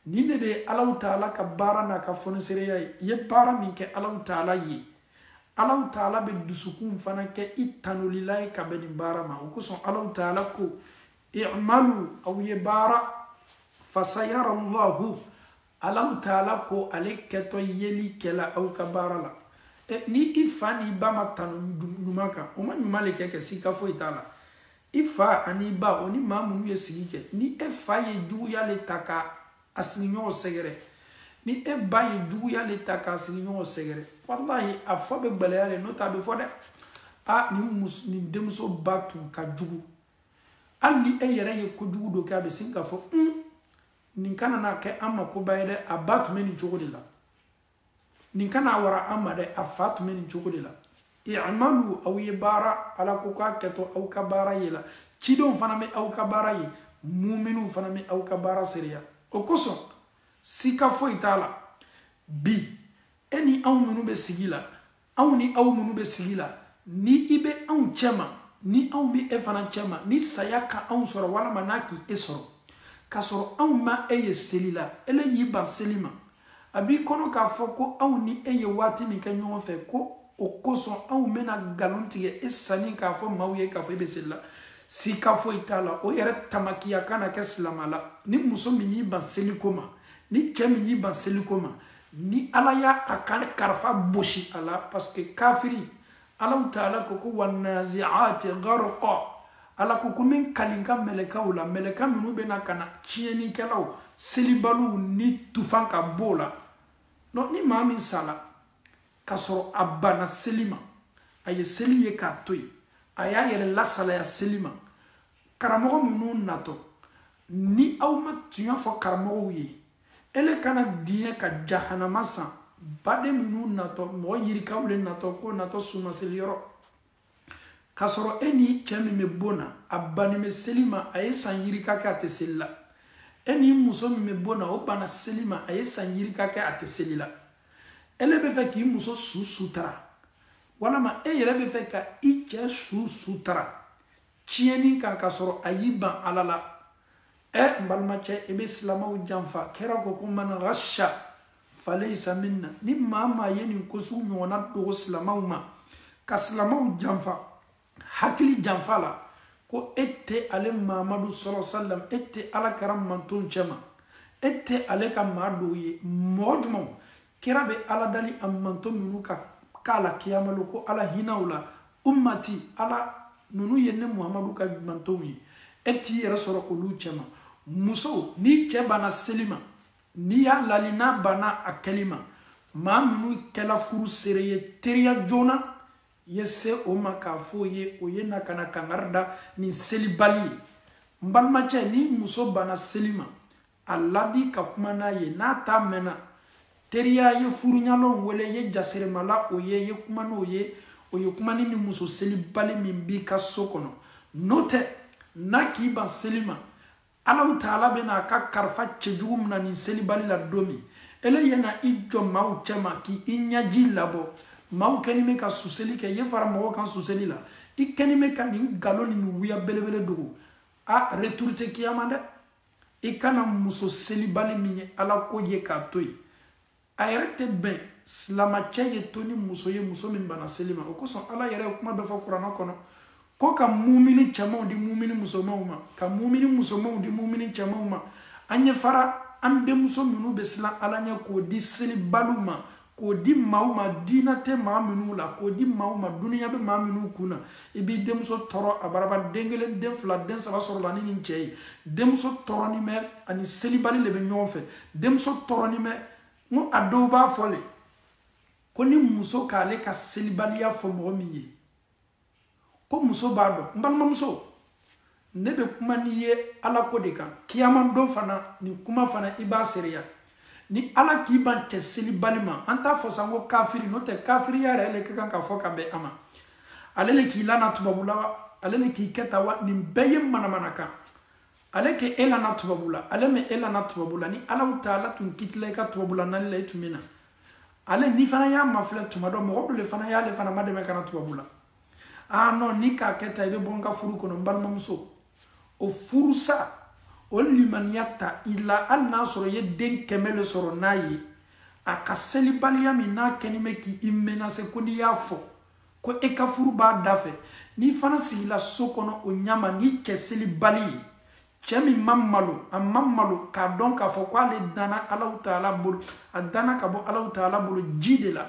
[SPEAKER 1] nin de bɛ alaw taala ka baara n'a ka fonisereya ye i ye baara min kɛ alaw taala ye alaw taala bɛ dusukun fana kɛ i tanulila ye ka bɛn nin baara ma o kosɔn alaw taala ko i'malu aw ye baara fasayara allahu alaw taala ko ale kɛtɔ yeli kɛla aw ka baara la e, ni i fa n'i ba ma tanu ɲuman kan o ma ɲuman le kɛ kɛ sika foyi t'a la i fa ani ba o ni maa minnu ye sigi kɛ ni e fa ye juguya le ta ka a sigiɲɔgɔn sɛgɛrɛ ni e ba ye juguya le ta k'a sigiɲɔgɔn sɛgɛrɛ walahi a fɔ bɛ gɛlɛya le n'o tɛ a bɛ fɔ dɛ a nin mus nin denmuso ba tun ka jugu hali ni e yɛrɛ ye kojugu dɔ kɛ a bɛ sin k'a fɔ un nin kana na kɛ an ma koba ye dɛ a ba tun bɛ nin cogo de la nin kana wara an ma dɛ a fa tun bɛ nin cogo de la i'malu aw ye baara ala ko k'a kɛtɔ aw ka baara ye la cidenw fana bɛ aw ka baara ye muminiw fana bɛ aw ka baara seereya o kosɔn sika foyi t'a la bi e ni anw minnu bɛ sigi la anw ni aw minnu bɛ sigi la ni i bɛ anw cɛma ni anw bɛ e fana cɛma ni saya ka anw sɔrɔ walima n'a ka e sɔrɔ k'a sɔrɔ anw ma e ye seli la ele y'i ban seli ma a b'i kɔnɔ k'a fɔ ko anw ni e ye waati min kɛ ɲɔgɔn fɛ ko o kosɔn anw bɛna nkalon tigɛ e sanin k'a fɔ maaw ye k'a fɔ e bɛ seli la sika foyi t'a la o yɛrɛ tamakiya kana kɛ silama la ni muso min y'i ban seliko ma ni cɛ min y'i ban seliko ma ni ala y'a a ka karifa bosi a la parce que kafiri alahu taala ko ko wanaziati garqa ala ko ko n bɛ n kali n ka mɛlɛkaw la mɛlɛka minnu bɛna ka na tiɲɛnikɛlaw selibaliw ni tufan ka b'o la donc ni maa min sala k'a sɔrɔ a banna seli ma a ye seli ye k'a to yen a y'a yɛrɛ lasalaya seli ma karamɔgɔ minnu natɔ ni aw ma tiɲɛ fɔ karamɔgɔw ye ele kana diɲɛ ka jahanama san baden minnu natɔ mɔgɔ yirikaw le natɔ ko natɔ sumaseli yɔrɔ k'a sɔrɔ e ni cɛ min bɛ bon na a bannen bɛ seli ma a ye san yirika kɛ a tɛ seli la e ni muso min bɛ bon na o banna seli ma a ye san yirika kɛ a tɛ seli la ele bɛ fɛ k'i muso su sutara walama e yɛrɛ bɛ fɛ ka i cɛ su sutara tiɲɛni kan k'a sɔrɔ a y'i ban ala la ɛ eh, n balimacɛ i bɛ silamaw janfa kira ko ko man ghasha falaysa minna ni maa maa ye nin ko sugu ɲɔgɔnna dogo silamaw ma ka silamaw janfa hakili janfa la ko e tɛ ale mamadu sala salam e tɛ ala kira manton cɛma e tɛ ale ka maa dɔ ye mɔgɔ jumɛnw kira bɛ ala dali a manton minnu ka ko la kiyama lon ko ala hinɛ u la ummati ala ninnu ye ne muhamadu ka mantonw ye e t'i yɛrɛ sɔrɔ olu cɛma muso n'i cɛ banna seli ma n'i y'a lali n'a banna a kɛli ma maa minnu kɛla furu seere ye teriya joona ye se o ma k'a fɔ o ye o ye na ka na kangari da nin selibali ye n balimacɛ n'i muso banna seli ma a ladi ka kuma n'a ye n'a t'a mɛn na teriya ye furuɲalɔn wele ye jaseremala o ye ye kuma n'o ye o ye kuma ni ni muso selibali min b'i ka so kɔnɔ n'o tɛ n'a k'i ban seli ma alahu taala bɛna a ka karifa cɛjugu mina nin selibali la don min ele yɛna i jɔ maaw cɛma k'i i ɲɛji labɔ maaw kɛni bɛ ka suseli kɛ ye fara mɔgɔw kan suseli la i kɛni bɛ ka nin galon ni nin wuya belebele dogo a retour tɛ kiyama dɛ i kana muso selibali min ye ala ko ye k'a to yen a yɛrɛ tɛ bɛn silamacɛ ye to ni muso ye muso min banna seli ma o kosɔn ala yɛrɛ ye kuma dɔ fɔ kurana kɔnɔ ko ka mumini cɛmanw di mumini musomanw ma ka mumini musomanw di mumini cɛmanw ma an ye fara an denmuso minnu bɛ siran ala ɲɛ k'o di selibaliw ma k'o di maaw ma diina tɛ maa minnu la k'o di maaw ma duniya bɛ maa minnu kun na i b'i denmuso tɔɔrɔ a bara ban den kelen den fila den saba sɔrɔ la ni nin cɛ ye denmuso tɔɔrɔnen bɛ a ni selibali le bɛ ɲɔgɔn fɛ denmuso tɔɔrɔnen bɛ n ko a dɔw b'a fɔ le ko ni muso k'ale ka selibaliya fɔ mɔgɔ min ye ko muso b'a dɔn n balimamuso ne bɛ kuma n'i ye ala ko de kan kiyamadon fana nin kuma fana i b'a seereya ni ala k'i ban cɛ selibali ma an t'a fɔ sanko kafiri n'o tɛ kafiriya yɛrɛ le ka kan ka fɔ ka bɛn a ma ale le k'i lana tubabula wa ale le k'i kɛ tan wa nin bɛɛ ye manamanakan ale ka e lana tubabula ale ma e lana tubabula ni alaw taala tun kitila i ka tubabula nani la i tun bɛ na ale n'i fana y'a mafilɛ tuma dɔ mɔgɔ dɔ le fana y'ale fana madɛmɛ ka na tubabula aa nɔ n'i k'a kɛ tan i bɛ bɔ n ka furu kɔnɔ n balimamuso o furu sa o limaniya ta i la hali n'a sɔrɔ i ye den kɛmɛ le sɔrɔ n'a ye a ka selibaliya min n'a kɛni bɛ k'i menase ko n'i y'a fɔ ko e ka furu b'a da fɛ n'i fana sigila so kɔnɔ o ɲa ma ni cɛ selibali ye cɛ min ma malo a ma malo k'a dɔn k'a fɔ ko ale danna alaw taala bolo a danna ka bɔ alaw taala bolo ji de la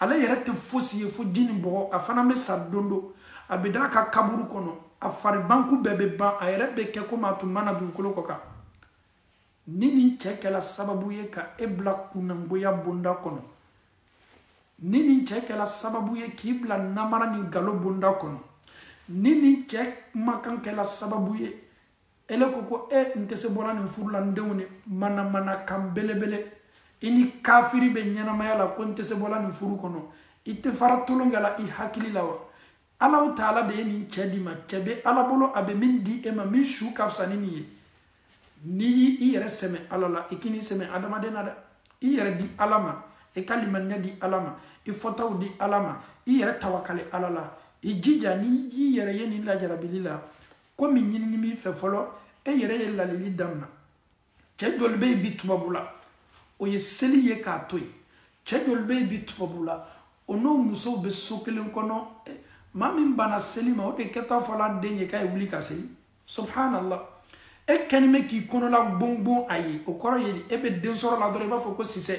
[SPEAKER 1] ale yɛrɛ tɛ fosi ye fo ji ni bɔgɔ a fana bɛ sa don dɔ a bɛ d'a ka kaburu kɔnɔ a faribanku bɛɛ bɛ ban a yɛrɛ bɛ kɛ komi a tun ma na dugukolo kɔ kan ni nin cɛ kɛla sababu ye ka e bila kunnangoya bonda kɔnɔ ni nin cɛ kɛla sababu ye k'i bila namara ni galo bonda kɔnɔ ni nin cɛ kumakan kɛla sababu ye ele ko ko e n tɛ se bɔla nin furu la n denw nin manamanakan belebele i ni kafiri bɛ ɲɛnamaya la ko n tɛ se bɔla nin furu kɔnɔ i tɛ fara tolon kɛ la i hakili la wa alaw taala de ye nin cɛ d'i ma cɛ bɛ ala bolo a bɛ min di e ma min su ka fisa ni nin ye n'i y'i yɛrɛ sɛmɛ ala la i kan'i sɛmɛ adamaden na dɛ i yɛrɛ di ala ma i ka limaniya di ala ma i fɔtaw di ala ma i yɛrɛ tawakale ala la i jija n'i y'i yɛrɛ ye nin lajarabili la ko min ɲinini b'i fɛ fɔlɔ e yɛrɛ ye lalili damina cɛ joli bɛ yen bi tubabula o ye seli ye k'a to yen cɛ joli bɛ yen bi tubabula o n'o musow bɛ so kelen kɔnɔ eh, maa min banna seli ma o de kɛt'a fɔla den ye k'a ye wuli ka seli subhanallah e kɛni bɛ k'i kɔnɔla gbongbon a ye o kɔrɔ ye e bɛ den sɔrɔ la dɔrɔn i b'a fɔ ko sisɛ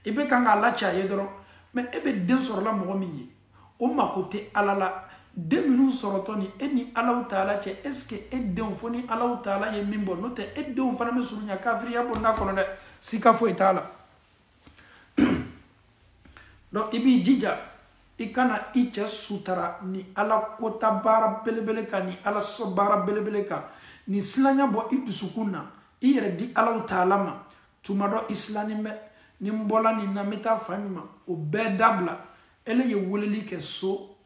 [SPEAKER 1] i bɛ kan k'a laci a ye dɔrɔn mɛ e bɛ den sɔrɔla mɔgɔ min ye o mako tɛ ala la den minnu sɔrɔtɔ nin e ni alaw taala cɛ est ce que e denw fo ni alaw taala ye min bɔ n'o tɛ e denw fana bɛ surunya kafiriya bonda kɔnɔ dɛ sika foyi t'a la donc i b'i jija i kana i cɛ sutara ni ala kota baara belebele kan ni ala sɔ baara belebele kan nin silanya bɔ i dusukun na i yɛrɛ di alaw taala ma tuma dɔ i silannen bɛ ni n bɔla nin na n bɛ taa fan ɲuman o bɛɛ dabila ele ye weleli kɛ so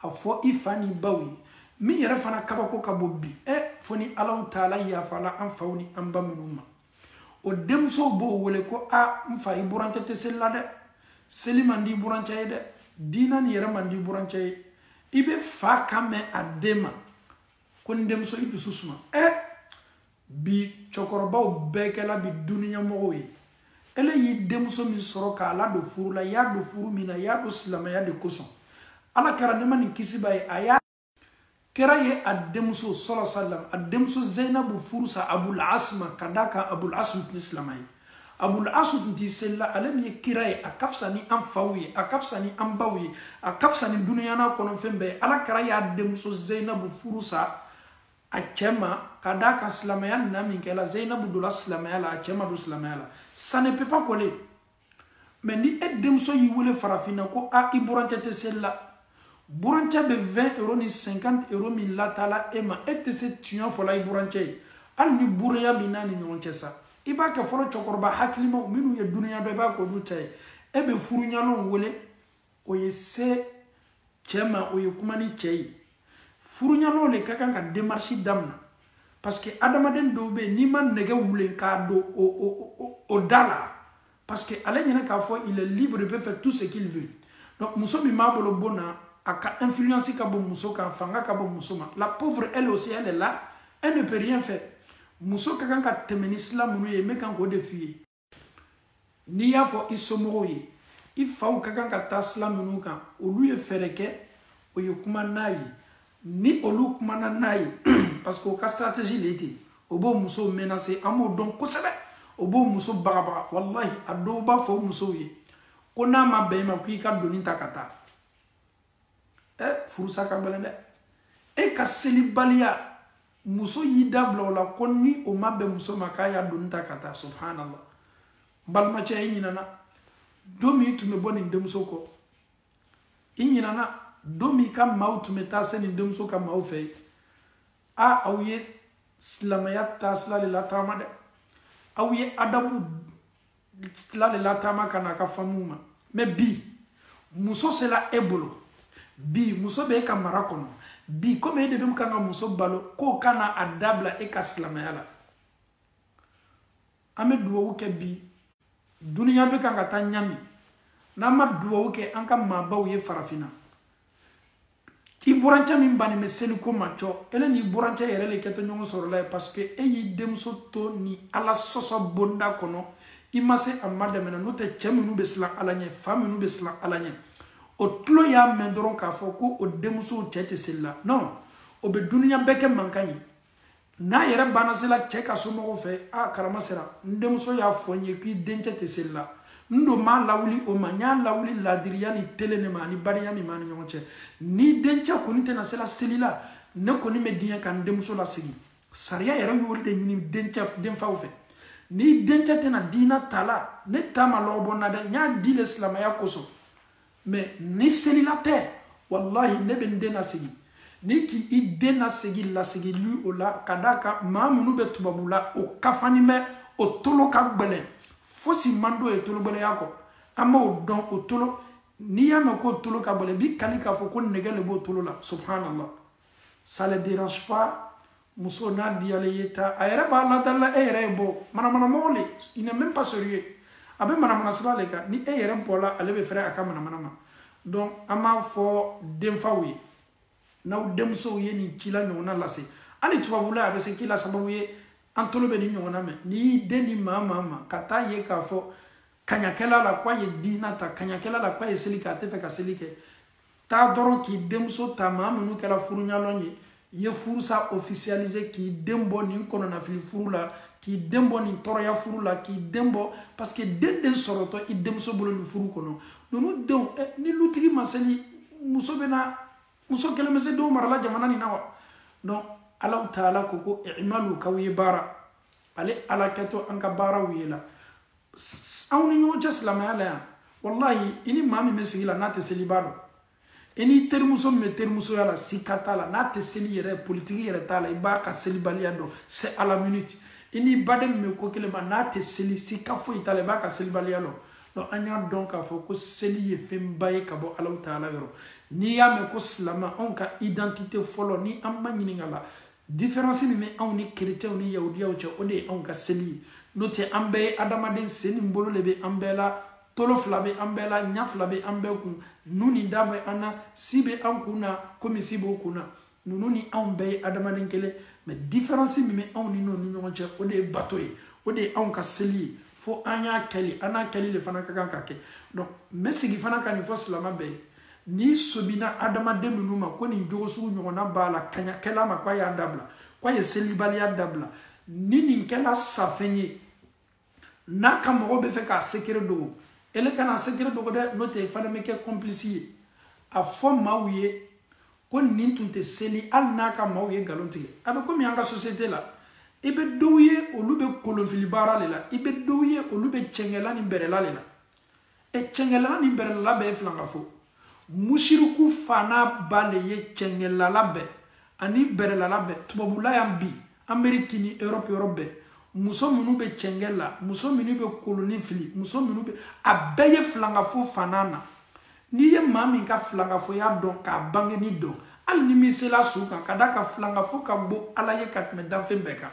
[SPEAKER 1] a fɔ i fa ni i baw ye min yɛrɛ fana kabako ka bon bi ɛ eh, fo ni alahu taala yafala an faw ni an ba minnu ma o denmusow b'o wele ko a ah, n fa i burancɛ tɛ seli la dɛ seli man di i burancɛ ye dɛ diina nin yɛrɛ man di i burancɛ ye i bɛ fa kan mɛn a den ma ko n denmuso i dusu suma ɛ eh, bi cɛkɔrɔbaw bɛɛ kɛla bi duniɲamɔgɔw ye ele y'i denmuso min sɔrɔ k'a ladon furu la i y'a don furu min na i y'a don silamɛya de kosɔn ala kira nɛɛma ni kisi b'a ye ala kira ye a denmuso sɔlɔ salam a denmuso zeyinabu furusa abul as ma ka d'a kan abul as tun tɛ silama ye abul asu tun tɛ seli la ale min ye kira ye a ka fisa ni an faw ye a ka fisa ni an baw ye a ka fisa ni duniya n'a kɔnɔfɛn bɛɛ ye ala kira y'a denmuso zeyinabu furusa a cɛ ma ka d'a kan silamɛya nana min kɛla zeyinabu donna silamɛya la a cɛ ma don silamɛya la ça ne peut pas coller mais ni e denmuso y'i wele farafinna ko a i burancɛ tɛ seli la burancɛ bɛ 20 euro ni 50 euro min lataa la e ma e tɛ se tiɲɛ fɔla i burancɛ ye hali ni buranya b'i n'a ni ɲɔgɔn cɛ sa i b'a kɛ fɔlɔ cɛkɔrɔba hakilimaw minnu ye duniya dɔn i b'a k'olu ta ye e bɛ furuɲalonw wele o ye se cɛ ma o ye kuma ni cɛ ye furuɲalonw le ka kan ka démarche damina parce que adamaden dɔw bɛ yen n'i ma nɛgɛ wulen k'a don o o o o da la parce que ale ɲɛna k'a fɔ il est libre il peut faire tout ce qu'il veut donc muso min b'a bolo bon na a ka influence ka bon muso kan fanga ka bon muso ma la pauvre elle aussi elle est là elle ne peut rien faire muso ka kan ka tɛmɛ ni sila minnu ye n bɛ kan k'o de f'i ye n'i y'a fɔ i somɔgɔw ye i faw ka kan ka taa sila minnu kan olu ye fɛɛrɛ kɛ o ye kuma n'a ye ni olu kumana n'a ye parce que o ka stratégie le ten o b'o musow menacer an b'o dɔn kosɛbɛ o b'o muso bagabaga walahi a dɔw b'a fɔ o musow ye ko n'a ma bɛn i ma ko i ka doni ta ka taa ɛ eh, furusa ka gɛlɛn dɛ e ka selibaliya muso y'i da bila o la ko ni o ma bɛn muso ma k'a y'a doni ta ka taa subhanallah n balimacɛ i ɲinana don min i tun bɛ bɔ nin denmuso kɔ i ɲinana don min i ka maaw tun bɛ taa se nin denmuso ka maaw fɛ ye a aw ye silamɛya taasila le lataama dɛ aw ye adabu sila le lataama ka na a ka famille ma mais bi muso sela e bolo bi muso bɛ e ka mara kɔnɔ bi komi e de bɛ kan ka muso balo k'o kana a da bila e ka silamɛya la an bɛ duwawu kɛ bi duniya bɛ kan ka taa ɲami n'an ma duwawu kɛ an ka maabaw ye farafinna i burancɛ min bannen bɛ seliko ma cɔ ele n'i burancɛ yɛrɛ le kɛtɔ ɲɔgɔn sɔrɔla ye parce que e y'i denmuso to nin ala sɔsɔ bonda kɔnɔ i ma se a madɛmɛ na n'o tɛ cɛ minnu bɛ siran ala ɲɛ fa minnu bɛ siran ala ɲɛ o tulo y'a mɛn dɔrɔn k'a fɔ ko o denmusow cɛ tɛ seli la non o bɛ duniya bɛɛ kɛ mankan ye n'a yɛrɛ bɛna sela cɛ ka somɔgɔw fɛ a karama sera n denmuso y'a fɔ n ye k'i dencɛ tɛ seli la n don m'a lawuli o ma n y'a lawuli ladiriya ni telen ne ma ani bariya min b'an ni ɲɔgɔn cɛ ni dencɛ kɔni tɛna sela seli la ne kɔni bɛ diɲɛ ka n denmuso lasegin sariya yɛrɛ y'o de ɲini dencɛ denfaw fɛ ni dencɛ tɛna diina ta la ne ta ma lɔgɔbɔ n na dɛ n y'a di le silamaya kosɔn mɛ ni selila tɛ walahi ne bɛ n den lasegin n'i k'i den lasegin lasegili o la ka d'a kan maa minnu bɛ tubabula o kafani bɛ o tolo ka gbɛlɛn fosi man d'o ye tologbɛlɛya kɔ an b'o dɔn o tolo n'i y'a mɛn k'o tolo ka gbɛlɛn i b'i kali k'a fɔ ko nɛgɛ le b'o tolo la subhanallah ça les dérange pas muso n'a diyalen ye ta a yɛrɛ b'a ladalila e yɛrɛ ye bɔ manamanamɔgɔ le il n'est même pas sérieux a bɛ manamana sira le kan ni e yɛrɛ bɔla ale bɛ fɛrɛ a ka manamana ma donc an b'a fɔ denfaw ye n'aw denmusow ye nin ci la ɲɔgɔnna lase hali tubabula a bɛ se kɛla sababu ye an tolo bɛ nin ɲɔgɔnna mɛn n'i y'i den di maa maa ma ka taa ye k'a fɔ k'an y'a kɛlɛ la k'a ye diina ta k'an y'a kɛlɛ la k'a ye seli kɛ a tɛ fɛ ka seli kɛ taa dɔrɔn k'i denmuso ta maa minnu kɛra furuɲalɔn ye i ye furusa officialiser k'i den bɔ nin kɔnɔnafili furu la k'i den bɔ nin tɔɔrɔya furu la k'i den bɔ parce que den den sɔrɔtɔ i denmuso bolo nin furu kɔnɔ ninnu denw eh, ni lutigi ma seli muso bɛna muso kelen bɛ se denw marala jamana nin na wa donc alahu taala ko ko imalu k'aw ye baara ale ala kɛtɔ an ka baaraw ye la anw ni ɲɔgɔn cɛ silamaya la yan walahi i ni maa min bɛ sigi la n'a tɛ seli i b'a dɔn i n'i terimuso min bɛ terimusoya la sika t'a la n'a tɛ seli yɛrɛ politiki yɛrɛ t'a la i b'a ka selibaliya dɔn c'est à la minute i n'i baden min bɛ ko kelen ma n'a tɛ seli sika foyi t'a la i b'a ka selibaliya dɔn donc an y'a dɔn k'a fɔ ko seli ye fɛnba ye ka bɔ alahu taala yɔrɔ n'i y'a mɛn ko silama anw ka identité fɔlɔ ni an maɲininka la diferansi min bɛ anw ni kerecɛnw ni yahudiyaw cɛ o de ye anw ka seli ye n'o tɛ an bɛɛ ye adamaden sen ni bolo de bɛ an bɛɛ la tolo fila bɛ an bɛɛ la ɲa fila bɛ an bɛɛ kun nun ni da bɛ an na si bɛ an kun na komi si b'o kun na ninnu ni anw bɛɛ ye adamaden kelen mɛ diferansi min bɛ anw ni n'o ni ɲɔgɔn cɛ o de ye bato ye o de ye anw ka seli ye fo an y'a kɛli an n'a kɛli de fana ka kan ka kɛ donc n bɛ sigi fana ka nin fɔ silama bɛɛ ye n'i sobina adamaden min ma ko nin jogo sugu ɲɔgɔnna b'a la k'a y'a kɛ ala ma k'a y'a dabila k'a ye selibaliya dabila ni nin kɛla safɛn ye n'a ka mɔgɔw b'a fɛ k'a sekere dogo ele kana sekere dogo dɛ n'o tɛ fana bɛ kɛ kɔnpilisi ye a fɔ maaw ye ko nin tun tɛ seli hali n'a ka maaw ye nkalon tigɛ a bɛ komi an ka sosiyete la i bɛ dɔw ye olu bɛ kolonfili baara de la i bɛ dɔw ye olu bɛ cɛngɛla ni bɛrɛla de la ɛ cɛnkɛlala ni bɛrɛlala bɛɛ ye filangafo musiriku fa n'a ba le ye cɛnkɛlala bɛɛ ani bɛrɛlala bɛɛ tubabula yan bi ameriki ni europe yɔrɔ bɛɛ muso minnu bɛ cɛnkɛ la muso minnu bɛ kolon fili muso minnu bɛ a bɛɛ ye filangafo fa n'a na n'i ye maa min ka filangafoya dɔn k'a bangeni dɔn hali ni min sela su kan k'a d'a kan filangafo ka gbo ala ye ka tɛmɛ danfɛn bɛɛ kan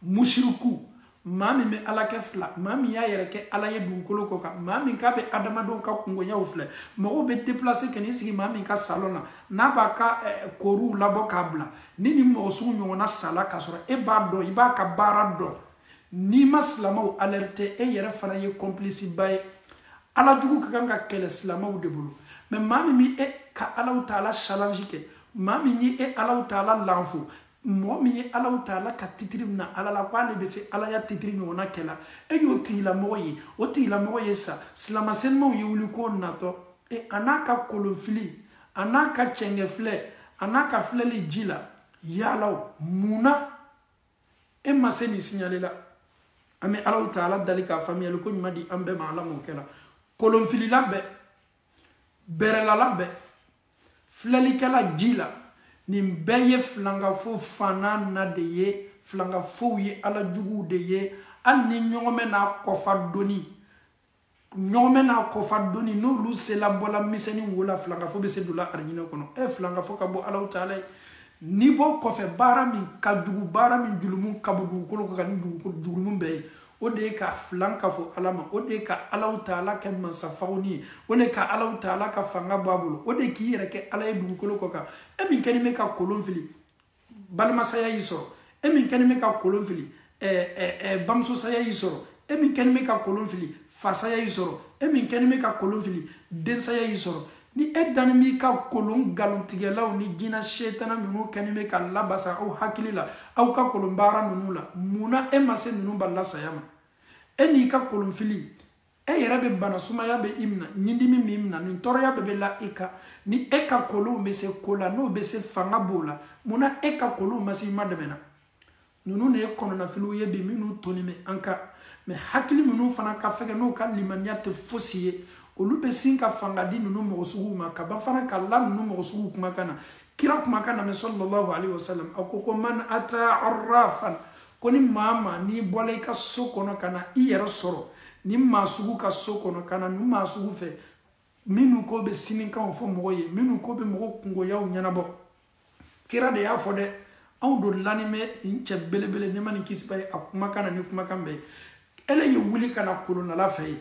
[SPEAKER 1] musiriku maa min bɛ ala kɛ fila maa min y'a yɛrɛ kɛ ala ye dugukolo kɔ kan maa min k'a bɛ adamadenw ka kungoyaw filɛ mɔgɔw bɛ deplase ka n'i sigi maa min ka salon na n'a b'a ka eh, koriw labɔ k'a bila ni nin mɔgɔ sugu ɲɔgɔnna sala k'a sɔrɔ e b'a dɔn i b'a ka baara dɔn n'i ma silamɛw alerte e yɛrɛ fana ye kɔnpilisi ba ye ala jugu ka kan ka kɛlɛ silamɛw de bolo mɛ maa min bɛ e ka alaw taala challenge kɛ maa min ye e alaw taala lanfo mɔgɔ min ye alaw taala ka titiri mina ala la ko ale bɛ se alaya titiri ɲɔgɔnna kɛ la e y'o tigilamɔgɔ ye o tigilamɔgɔ ye sa silama senumaw ye wuli ko natɔ e a n'a ka kolonfili a n'a ka cɛngɛfilɛ a n'a ka filɛli ji la yala mun na e ma se nin siɲale la an bɛ alaw taala dali ka faamuyali ko ɲuman di an bɛɛ ma ala m'o kɛla kolonfilila bɛɛ bɛrɛlala bɛɛ filɛlikɛla ji la nin bɛɛ ye filangafo fa n'a na de ye filangafow ye ala juguw de ye hali ni ɲɔgɔmɛ n'a kɔ fa doni ɲɔgɔmɛ n'a kɔ fa doni n'olu sela bɔla misɛni wo la filangafo bɛ se donna arijinɛ kɔnɔ e eh, filangafo ka gbo alaw taala ye ni bɔ kɔfɛ baara min ka jugu baara min julumu ka bon dugukolo kan ni dugukolo julumu bɛɛ ye o de ye ka filan kafo ala ma o de ye ka alaw taala kɛ mansa fagoni ye o de ka alaw taala ka fanga bɔ a bolo o de k'i yɛrɛ kɛ ala ye dugukolo kɔ kan e min kɛni bɛ ka kolon fili balimasaya y'i sɔrɔ e min kɛni bɛ ka kolon fili bamusosaya y'i sɔrɔ e min kɛni bɛ ka kolon fili fasaya y'i sɔrɔ e min kɛni bɛ ka kolon fili densaya y'i sɔrɔ ni e dani b'i ka kolon nkalontigɛlaw ni jina setana minnu kɛni bɛ ka labasa aw hakili la aw ka kolon baara ninnu la mun na e ma se ninnu balila saya ma e n'i ka kolonfili e yɛrɛ bɛ bana sumaya bɛ i minɛ ɲindimi b'i minɛ nin tɔɔrɔya bɛɛ bɛ la i kan ni e ka kolonw bɛ se ko la n'o bɛ se fanga b'o la mun na e ka kolonw ma se i madɛmɛna ninnu de ye kɔnɔnafiliw ye bi minnu toni bɛ an kan mɛ hakili minnu fana ka fɛgɛ n'u ka limaniya tɛ fosi ye olu bɛ sin ka fanga di ninnu mɔgɔ suguw ma ka ban fana ka la ninnu mɔgɔ suguw kumakan na kira kumakan na mɛ sallallahu alayhi wa sallam a ko ko man ata arrafan ko ni maa maa n'i bɔla i ka so kɔnɔ ka na i yɛrɛ sɔrɔ nin maa sugu ka so kɔnɔ ka na nin maa sugu fɛ minnu ko bɛ sinikanw fɔ mɔgɔ ye minnu ko bɛ mɔgɔ kungoyaw ɲɛnabɔ kira de y'a fɔ dɛ anw don lani bɛ nin cɛ belebele nɛɛma ni kisi b'a ye a kumakan na ni kumakan bɛɛ ye ele ye wuli ka na kolonlala fɛ e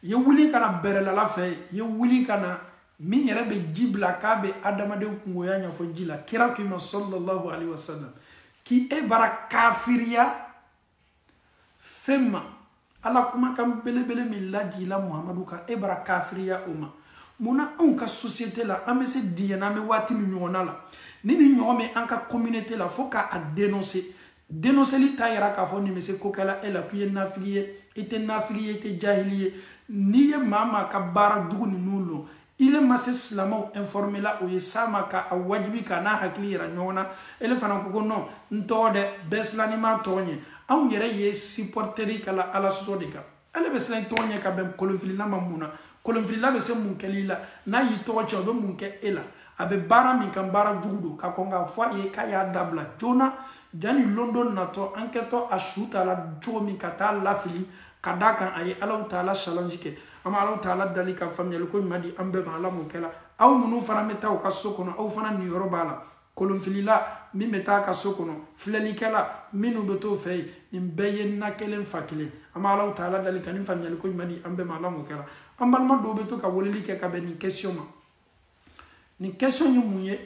[SPEAKER 1] ye wuli ka na bɛrɛlala fɛ e ye wuli ka na min yɛrɛ bɛ ji bila k'a bɛ adamaden kungoya ɲɛfɔ ji la kira k'i ma sallallahu alaihi wasallam k'i e bara kafiriya fɛn ma ala kumakan belebele min lajiila muhamadu kan e bara kafiriya o ma mun na anw ka sosiyete la an bɛ se diɲɛ na an bɛ waati min ɲɔgɔnna la ni nin ɲɔgɔn bɛ an ka communauté la fo k'a denonse denonseli t'a yira k'a fɔ nin bɛ se ko kɛla e la k'i ye nafigi ye i tɛ nafigi ye i tɛ jahili ye n'i ye maa maa ka baara jugu ninnu lɔn ile ma se silamɛw informe la o ye s'a ma ka a wajibi ka n'a hakili yira ɲɔgɔn na ele fana ko ko non n tɔgɔ dɛ bɛɛ silanin b'a tɔgɔ ɲɛ anw yɛrɛ ye supporteri ka la ala sɔsɔ de kan ele bɛ silan i tɔgɔ ɲɛ ka bɛn kolonfilila ma mun na kolonfilila bɛ se mun kɛli la n'a y'i tɔgɔ cɛn o bɛ mun kɛ e la a bɛ baara min kan baara jugu don ka kɔn k'a fɔ a ye k'a y'a dabila joona jani lon dɔ natɔ an kɛtɔ a su ta la cogo min ka t'a lafili ka d'a kan a ye alahu taala challenge kɛ an bɛ alahu taala dali ka faamuyali ko ɲuman di an bɛɛ ma ala m'o kɛla aw minnu fana bɛ taa u ka so kɔnɔ aw fana niyɔrɔ b'a la kolonfilila min bɛ t'a ka so kɔnɔ filɛlikɛla minnu bɛ t'o fɛ yen nin bɛɛ ye na kelen fa kelen an bɛ alahu taala dali ka nin faamuyali ko ɲuman di an bɛɛ ma ala m'o kɛla an balima dɔw bɛ to ka weleli kɛ ka bɛn nin question ma nin question ye mun ye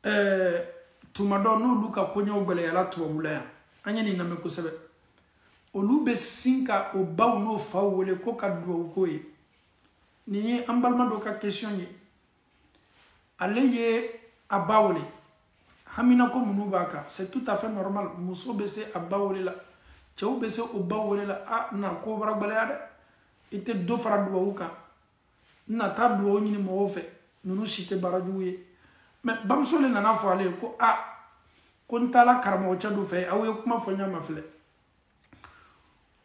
[SPEAKER 1] ɛɛ tuma dɔ n'olu ka koɲɛw gɛlɛyara tubabu la yan an ye nin lamɛn kosɛbɛ olu bɛ sin ka o baw n'o faw wele k'o ka dugawu k'o ye nin ye an balima dɔ ka kesiyɔn ye ale ye a ba wele haminanko minnu b'a kan c'est tout à fait normal muso bɛ se a ba wele la cɛw bɛ se o baw wele la a na ko bara gɛlɛya dɛ i tɛ dɔ fara dugawu kan n na taa dugawu ɲini mɔgɔw fɛ ninnu si tɛ baara jugu ye mɛ bamuso de nana fɔ ale ye ko a ko n taala karamɔgɔcɛ dɔ fɛ aw ye kuma fɔ ɲa ma filɛ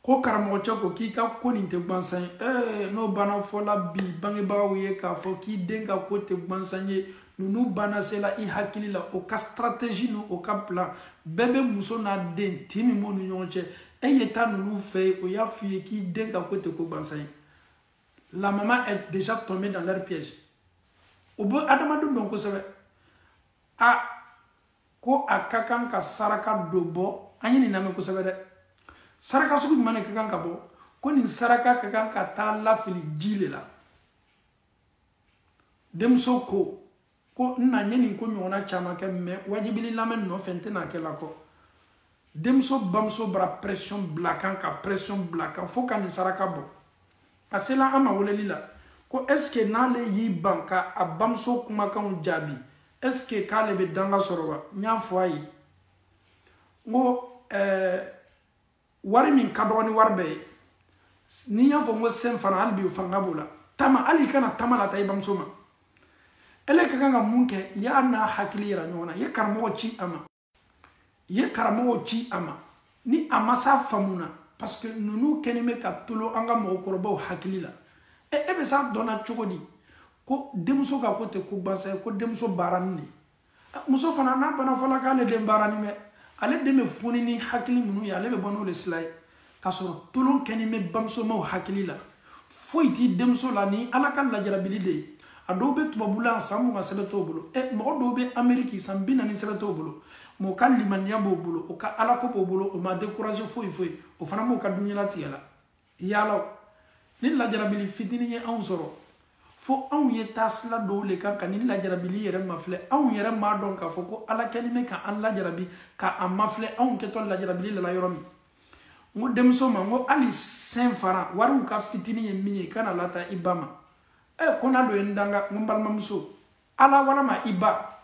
[SPEAKER 1] ko karamɔgɔcɛ ko k'i ka ko nin tɛ gwansan ye ee n'o banna fɔla bi bangebagaw ye k'a fɔ k'i den ka ko tɛ gwansan ye ninnu banna sela i hakili la o ka stratégie ni o ka plan bɛɛ bɛ muso n'a den tin min b'u ni ɲɔgɔn cɛ e ye taa ninnu fɛ yen o y'a f'i ye k'i den ka ko tɛ ko gwansan ye la maman est déjà tombée dans leur piège o bɛ adamadenw dɔn kosɛbɛ a ko a ka kan ka saraka dɔ bɔ an ye nin lamɛn kosɛbɛ dɛ saraka sugu jumɛn de ka kan ka bɔ ko nin saraka ka kan ka taa lafili ji le la denmuso ko ko n na n ye nin ko ɲɔgɔnna caman kɛ mɛ wajibili lamɛn nɔfɛ n tɛna kɛ la kɔ denmuso bamuso bara pression bila kan ka pression bila kan fo ka nin saraka bɔ a sela an ma weleli la ko est ce que n'ale y'i ban ka a bamuso kumakanw jaabi est ce que k'ale bɛ danga sɔrɔ wa n y'a fɔ a ye n ko ɛɛ wari min ka dɔgɔ ni wari bɛɛ ye ni y'a fɔ n ko cinq francs hali bi o fanga b'o la tama hali i kana tama lataa i bamuso ma ele ka kan ka mun kɛ y'a n'a hakili yira ɲɔgɔn na i ye karamɔgɔ ci a ma i ye karamɔgɔ ci a ma ni a ma s'a faamu na parce que ninnu kɛlen bɛ ka tolon an ka mɔgɔkɔrɔbaw hakili la e e bɛ s'a dɔnna cogo di ko denmuso ka ko tɛ ko gansan ye ko denmuso baarani de muso fana n'a bana fɔla k'ale den baarani bɛ ale den bɛ foni ni hakili minnu ye ale bɛ bɔ n'o de sila ye k'a sɔrɔ tolon kɛni bɛ bamusomaw hakili la foyi t'i denmuso la ni ala ka lajarabili de ye a dɔw bɛ tubabula san mugan sɛbɛn t'o bolo ɛ mɔgɔ dɔw bɛ ameriki san bi naani sɛbɛn t'o bolo mɔgɔ ka limaniya b'o bolo o ka alako b'o bolo o ma dekuraze foyi foyi o fana b'o ka dunyalatigɛ la yala nin lajarabili fitinin ye anw sɔrɔ fo anw ye taa sila dɔw le kan ka nin lajarabili yɛrɛ mafilɛ anw yɛrɛ m'a dɔn k'a fɔ ko ala kɛni bɛ ka an lajarabi ka a mafilɛ anw kɛtɔ lajarabili lala yɔrɔ min n ko denmuso ma n ko hali cinq francs wariw ka fitinin ye min ye kana lataa i ba ma ɛ ko n'a dɔ ye n danga n ko n balimamuso ala walama i ba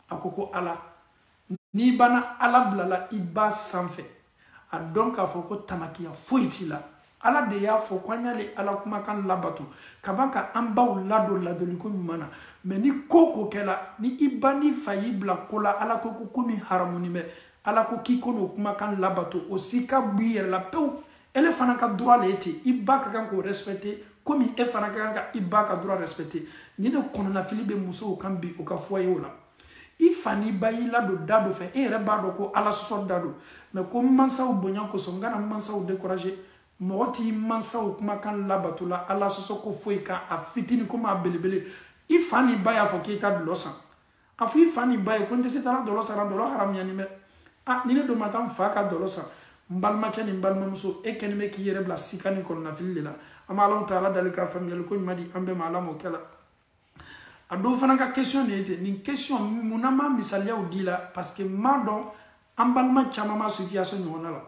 [SPEAKER 1] a ko ko ala n'i banna ala bila la i ba sanfɛ a dɔn k'a fɔ ko tamakiya foyi t'i la ala de y'a fɔ ko an y'ale ala kumakan labato ka ban ka an baw ladon ladoliko ɲuman na mɛ ni ko ko kɛla ni i ba n'i fa y'i bila ko la ala ko ko ko min haramuni bɛ ala ko k'i kan'o kumakan labato o sika b'i yɛrɛ la pewu ele fana ka droit le ye ten i ba ka kan k'o respecte komi e fana ka kan ka i ba ka droit respecte nin le kɔnɔnafili bɛ musow kan bi u ka fɔ ye o la i fa n'i ba y'i ladon da dɔ fɛ e yɛrɛ b'a dɔn ko ala sɔsɔ da don mɛ ko n mansaw bonya kosɔn n kana n mansaw décourage mɔgɔ t'i mansaw kumakan labato la ala sɔsɔ ko foyi kan a fitini komi a belebele i fa n'i ba y'a fɔ k'i ka dulɔ san a fɔ i fa ni ba ye ko n tɛ se taara dɔlɔ sara dɔlɔ haramuyanin bɛ aa ni ne dun ma taa n fa ka dɔlɔ sara n balimakɛ ni n balimamuso e kɛlen bɛ k'i yɛrɛ bila sika ni kɔnɔnafili de la an bɛ ala taala dali ka faamuyali ko ɲuman di an bɛɛ ma ala m'o kɛ la a dɔw fana ka question de ye ten nin question mun na ma misaliyaw di la parce que n b'a dɔn an balima caman ma situation ɲɔgɔnna la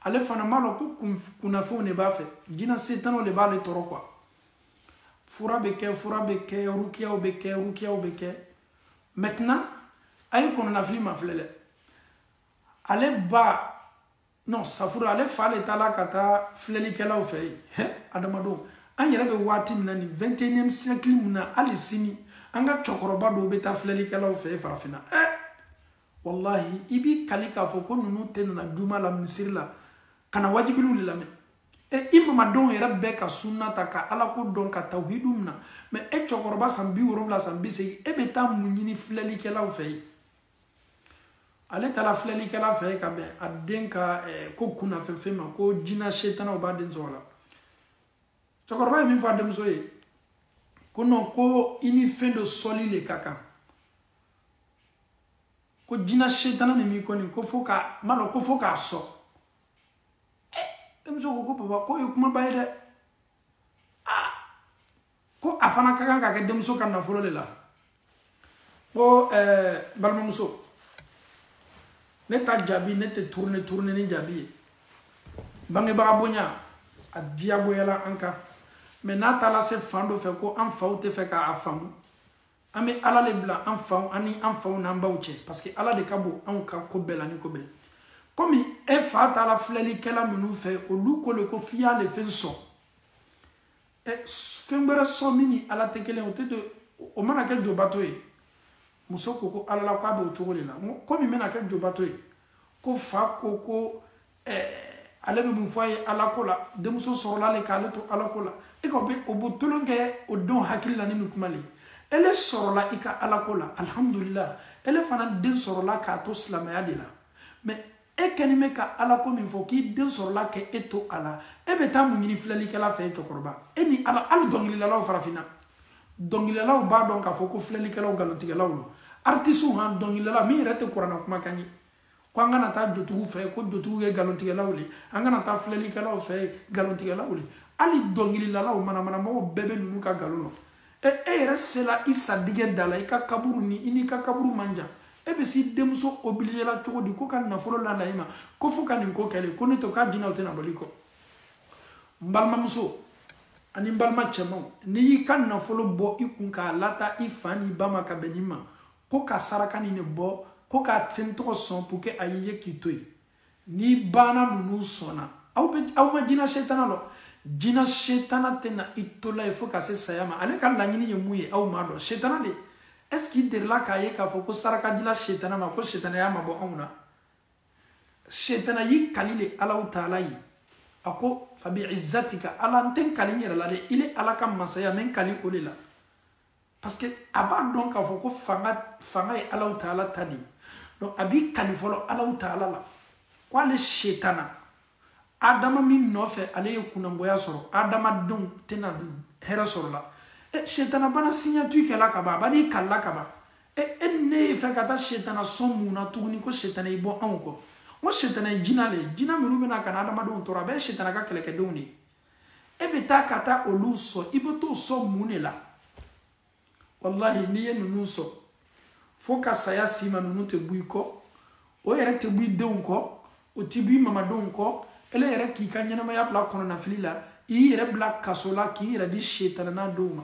[SPEAKER 1] ale fana m'a dɔn ko kunnafɛnw de b'a fɛ jinɛ setanaw de b'ale tɔɔrɔ quoi fura bɛ kɛ fura bɛ kɛ rukiyaw bɛ kɛ rukiyaw bɛ kɛ maintenant a ye kɔnɔnafilima filɛ dɛ ale ba non safura ale fa de taala ka taa filɛlikɛlaw fɛ yen hɛ adamadenw an yɛrɛ bɛ waati min na nin 21e siècle mun na hali sini an ka cɛkɔrɔba dɔw bɛ taa filɛlikɛlaw fɛ yen farafinna ɛ walahi i b'i kali k'a fɔ ko ninnu tɛ nana juma la misiri la ka na wajibiliw de lamɛn e i mamadenw yɛrɛ bɛɛ ka sunna ta ka ala ko dɔn ka tawhidu mina mɛ e cɛkɔrɔba san bi wolonwula san bi segin e bɛ taa mun ɲini filɛlikɛlaw fɛ yen ale taara filɛlikɛla fɛ yen ka bɛn a den ka eh, ko kunnafɛnfɛn ma ko jina setanaw b'a den tɔɔrɔ la cɛkɔrɔba ye min fɔ a denmuso ye ko nɔn ko i ni fɛn dɔ sɔnli le ka kan ko jina setana min b'i kɔ nin ko fo ka ma dɔn ko fo k'a sɔn denmuso ko ko papa k'o ye kumaba ye dɛ aa ko a fana ka kan ka kɛ denmuso ka nafolo de la ko ɛɛ balimamuso ne ta jaabi ne tɛ tourner tourner ni jaabi ye bangebaga bonya a diyagoyala an kan mɛ n'a taara se fan dɔ fɛ ko an faw tɛ fɛ k'a faamu an bɛ ala de bila an faw an ni an faw n'an baw cɛ parce que ala de ka bon anw ka ko bɛɛ la ni ko bɛɛ komi e fa taara filɛlikɛla minnu fɛ olu ko le ko f'i y'ale fɛn sɔn ɛ fɛn wɛrɛ sɔn min ni ala tɛ kelen o tɛ don o mana kɛ jobato ye muso ko ko ala la k'a b'o cogo de la n ko komi n bɛna kɛ jobato ye ko fa ko ko ale bɛ mun fɔ a ye ala ko la denmuso sɔrɔla le k'ale to ala ko la e ka o bɛ o bɛ tolon kɛ o denw hakili la ni nin kuma le ele sɔrɔla i ka ala ko la alihamudulila ele fana den sɔrɔla k'a to silamɛya de la mɛ e kɛnin bɛ ka ala ko min fɔ k'i den sɔrɔla k'e to a la e bɛ taa mun ɲini filɛlikɛla fɛ e cɛkɔrɔba e ni ala hali dɔnkilidalaw farafinna dɔnkilidalaw b'a dɔn k'a fɔ ko filɛlikɛlaw nkalontigɛlaw don artisiw han dɔnkilidala min yɛrɛ tɛ kurana kumakan ye ko an kana taa jotigiw fɛ ko jotigiw ye nkalontigɛlaw le an kana taa filɛlikɛlaw fɛ nkalontigɛlaw le hali dɔnkililalaw manamanamɔgɔw bɛɛ bɛ ninnu ka nkalon dɔn e e yɛrɛ sela i sadigɛ da la i ka kaburu ni i n'i ka kaburu man jan e bɛ s'i denmuso obliger la cogo di ko ka nafolo lana i ma ko fo ka nin ko kɛ le ko n'o tɛ k'a jina o tɛna bɔ i kɔ n balimamuso ani n balima cɛmanw n'i y'i ka nafolo bɔ i kun k'a lata i fa n'i ba ma ka bɛn nin ma ko ka saraka ninnu bɔ ko k'a fɛn tɔgɔ sɔn pour que a y'i ye k'i to yen n'i banna ninnu sɔn na aw bɛ aw ma jina setana lɔn jina setana tɛna i to la yen fo ka se saya ma ale ka laɲini ye mun ye aw m'a dɔn setana de est ce qu'i delila k'a ye k'a fɔ ko saraka dila setana ma ko setana y'a mabɔ anw na setana y'i kali le alaw taala ye a ko fabi izzatika ala n tɛ n kali n yɛrɛ la dɛ ile ala ka masaya n bɛ n kali o de la parce que a b'a dɔn k'a fɔ ko fanga fanga ye alaw taala ta de ye donc a b'i kali fɔlɔ alaw taala la ko ale setana adama min nɔfɛ ale ye kunnangoya sɔrɔ adamadenw tɛna hɛrɛ sɔrɔ la e setana banna signature kɛ la ka ban a bann'i kali la ka ban e e ni ne ye fɛ ka taa setana sɔn mun na tuguni ko setana y'i bɔ anw kɔ n ko setana ye jina le ye jina minnu bɛna ka na adamadenw tɔɔrɔ a bɛɛ ye setana ka kɛlɛkɛdenw de ye e bɛ taa ka taa olu sɔn i bɛ t'o sɔn mun de la walahi n'i ye ninnu sɔn fo ka saya s'i ma ninnu tɛ bɔ i kɔ o yɛrɛ tɛ bɔ i denw kɔ o tɛ bɔ i mamadenw kɔ ele yɛrɛ k'i ka ɲɛnamaya bila kɔnɔnafili la i yɛrɛ bila kaso la k'i yɛrɛ di setana denw ma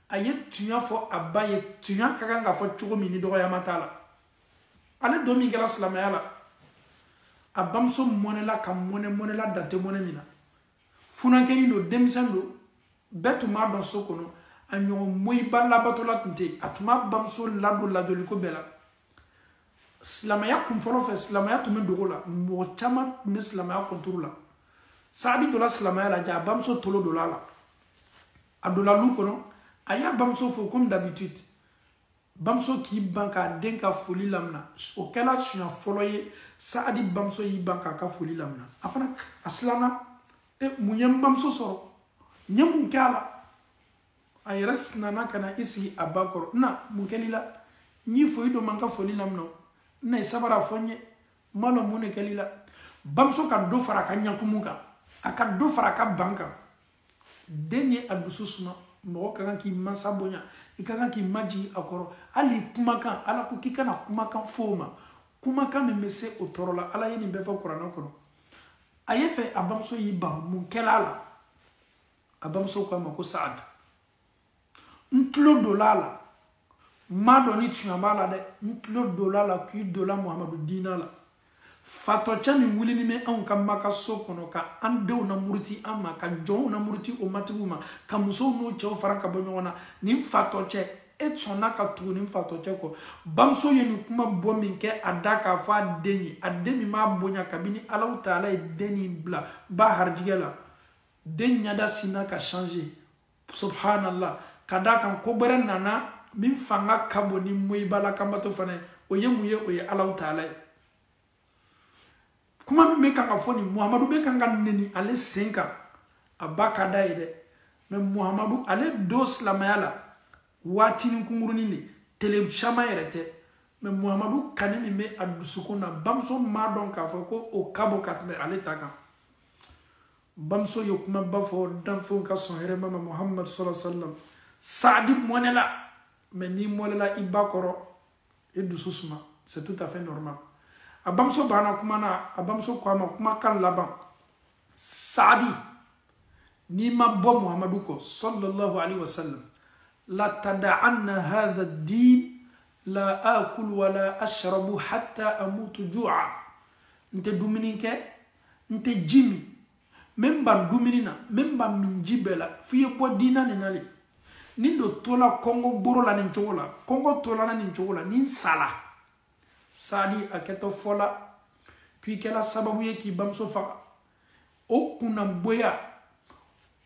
[SPEAKER 1] a ye tuɲa fɔ a ba ye tuɲa ka kan ka fɔ cogo min ni dɔgɔyama t'a la ale don min kɛra silamɛya la a bamuso mɔnɛla ka mɔnɛ mɔnɛla dan tɛ mɔnɛ min na funankɛnin don denmisɛn don bɛɛ tun b'a dɔn so kɔnɔ a ɲɔgɔn moyiba labatola tun tɛ a tun b'a bamuso ladon ladonniko bɛɛ la silamɛya kun fɔlɔ fɛ silamɛya tun bɛ dogo la mɔgɔ caman tun bɛ silamɛya contre la saadi donna silamɛya la ja a bamuso tolo donna a la a donna lu kɔnɔ a y'a bamuso fo comme d'habitude bamuso k'i ban k'a den ka foli lamina o kɛla siɲa fɔlɔ ye saadi bamuso y'i ban k'a ka foli lamina a fana a silanna e mun ye n bamuso sɔrɔ n ye mun kɛ a la a yɛrɛ sinna ka na i sigi a ba kɔrɔ na mun kɛl'i la n y'i fo i dun ma n ka foli lamina o n na i sabar'a fɔ n ye n b'a dɔn mun de kɛl'i la bamuso ka dɔ fara a ka ɲakumu kan a ka dɔ fara a ka ban kan den ye a dusu suma mɔgɔ ka kan k'i mansa bonya i ka kan k'i majigin a kɔrɔ hali kumakan ala ko k'i kana kumakan f'o ma kumakan min bɛ se o tɔɔrɔ la ala ye nin bɛɛ fɔ kuranɛ kɔnɔ a ye fɛ a bamuso y'i ban mun kɛla a la a bamuso ko a ma ko saadu n tulo donla a la n m'a dɔn ni tiɲɛ b'a la dɛ n tulo donla a la k'i donla muhamadu diina la fatɔcɛ min wulini bɛ anw ka maka so kɔnɔ ka an denw namuruti an ma ka jɔnw namuruti o matigiw ma ka musow n'o cɛw fara ka bɔ ɲɔgɔn na nin fatɔcɛ e sɔnna ka tugu nin fatɔcɛ kɔ bamuso ye nin kuma bɔ min kɛ a da k'a fɔ a den ye a den min b'a bonya kabini alaw taala ye den nin bila ba harijɛgɛ la den ɲɛda sinna ka changer subhanallah ka d'a kan ko bɛrɛ nana min fanga ka bon ni moyibala kanbato fana ye o ye mun ye o ye ala taala ye kuma min bɛ kan ka fɔ nin muhamadu bɛ kan ka neni ale sen kan a ba ka da ye dɛ mais muhamadu ale don silamaya la waatinin kunkurunin le tele caman yɛrɛ tɛ mais muhamadu kani min bɛ a dusukun na bamuso m'a dɔn k'a fɔ ko o ka bon ka tɛmɛ ale ta kan bamuso ye kumaba fɔ danfɛnw ka sɔn hɛrɛ ma muhammad sallallahu alaihi wasallam saadi mɔnɛla mais n'i mɔnɛla i ba kɔrɔ i dusu suma c'est tout à fait normal a bamuso banna kuma na a bamuso ko a ma kumakan laban saadi n'i ma bɔ muhamadu kɔ sallallahu alaihi wasallam la tada'anna hadha din la akulu wala ashrabu hatta amutu ju'a n tɛ dumuni kɛ n tɛ ji min n bɛ n ban dumuni na n bɛ n ban minji bɛɛ la f'i ye bɔ diina nin na le ni n do tola kɔngɔ boro la nin cogo la kɔngɔ tola n na nin cogo la ni n sala saadi a kɛtɔ fɔ la ko i kɛra sababu ye k'i bamuso faga o kunnagboya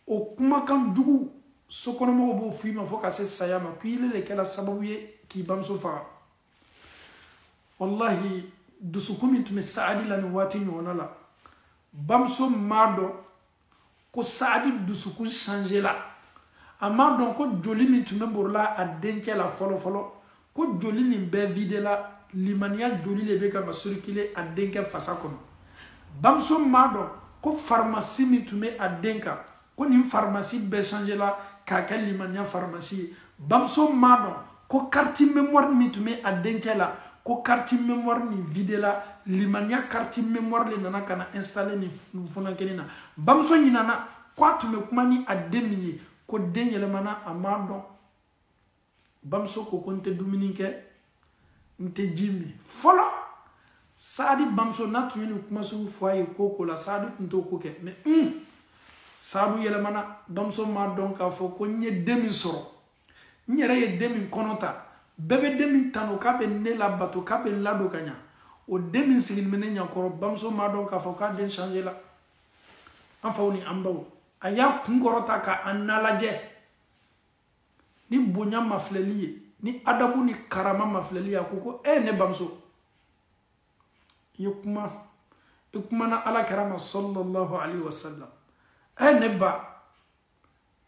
[SPEAKER 1] o kumakan jugu sokɔnɔmɔgɔw b'o f'i ma fo ka se saya ma ko ile le kɛra sababu ye k'i bamuso faga walahi dusukun min tun bɛ saadi la nin waati ɲɔgɔnna la bamuso m'a dɔn ko saadi dusukun changela a m'a dɔn ko joli min tun bɛ borila a dencɛ la fɔlɔfɔlɔ ko joli nin bɛɛ videla limaniya joli le bɛ kan ka circuler a denkɛ fasa kɔnɔ bamuso m'a dɔn ko farimasi min tun bɛ a den kan ko nin farimasi bɛɛ changela k'a kɛ limaniya farimasi ye bamuso m'a dɔn ko carte mémoire min tun bɛ a dencɛ la ko carte mémoire nin videla limaniya carte mémoire le nana ka na installer nin funankɛnin na bamuso ɲinana ko a tun bɛ kuma ni a den min ye k'o den yɛlɛmana a m'a dɔn bamuso ko ko n tɛ dumuni kɛ n tɛ ji min fɔlɔ saadi bamuso n'a tun ye nin kuma sugu fɔ a ye ko ko la saadi tun t'o ko kɛ mais un saadi yɛlɛmana bamuso m'a dɔn k'a fɔ ko n ye den min sɔrɔ n yɛrɛ ye den min kɔnɔ ta bɛɛ bɛ den min tanu k'a bɛ ne labato k'a bɛ n ladon ka ɲa o den min sigilen bɛ ne ɲakɔrɔ bamuso m'a dɔn k'a fɔ k'a den changela an faw ni an baw a y'a kun kɔrɔta ka a na lajɛ ni bonya mafilɛli ye ni adabu ni karama mafilɛli ye a ko ko e eh, ne bamuso i ye kuma i kumana ala kira ma sallallahu alaihi wasallam e eh, ne ba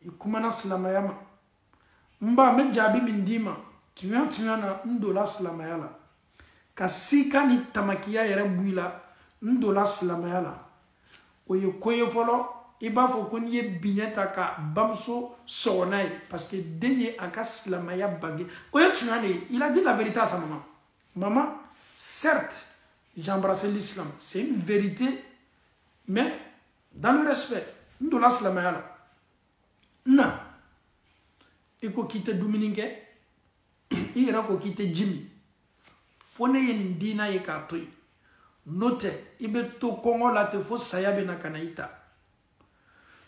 [SPEAKER 1] i kumana silamaya ma n ba n bɛ jaabi min d'i ma tuɲa tuɲa na n donna silamaya la ka sika ni tamakiya yɛrɛ bɔ i la n donna silamɛya la o ye ko ye fɔlɔ i b'a fɔ ko n'i ye biɲɛ ta ka bamuso sɔgɔ n'a ye parce que den ye a ka silamɛya bange o ye tiɲɛ de ye il a dit la vérité à sa maman maman certes j'ai embrassé l'islam c'est une vérité mais dans le respect n donna silamɛya la n na i ko k'i tɛ dumuni kɛ i yɛrɛ ko k'i tɛ ji min fo ne ye nin diina ye k'a to yen n'o tɛ i bɛ to kɔngɔ la ten fo saya bɛ na ka na i ta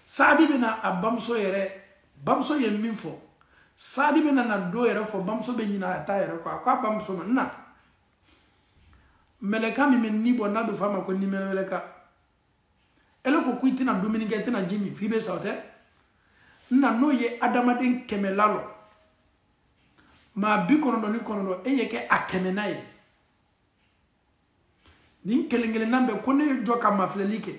[SPEAKER 1] saadi bɛ na a bamuso yɛrɛ bamuso ye min fɔ saadi bɛ na na dɔ yɛrɛ fɔ bamuso bɛ ɲinɛ a ta yɛrɛ kɔ a ko a bamuso ma n na mɛlɛka min bɛ ni bɔ n'a bɛ fɔ a ma ko nimɛlɛka ele ko ko i tɛna dumuni kɛ i tɛna ji min f'i bɛ sa o tɛ n na n'o ye adamaden kɛmɛ lalɔ maa bi kɔnɔntɔn ni kɔnɔntɔn e ye kɛ a kɛmɛnan ye nin kelen kelenna bɛɛ ko ne ye jɔ ka mafilɛli kɛ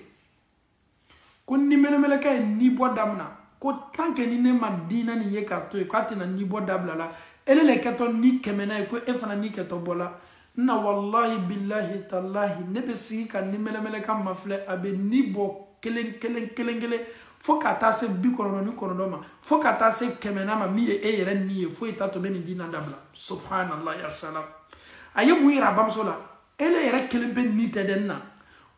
[SPEAKER 1] ko niminɛmɛlɛkɛ ye nibɔ damina ko tant que ni ne ma diina nin ye k'a to yen k'a tɛna nibɔ dabila la ele le kɛtɔ nin kɛmɛnan ye ko e fana ni kɛtɔ bɔla n na walahi bilahi talahi ne bɛ sigi ka niminɛmɛlɛka mafilɛ a bɛ ni bɔ kelen kelen kelen kelen fo ka taa se bi kɔnɔntɔn ni kɔnɔntɔn ma fo ka taa se kɛmɛnan ma min ye e yɛrɛ ni ye foyi t'a to n bɛ nin diina dabila subhanallah ya salam a ye mun yira a bamuso la ele yɛrɛ kelenpe ni tɛ dɛ n na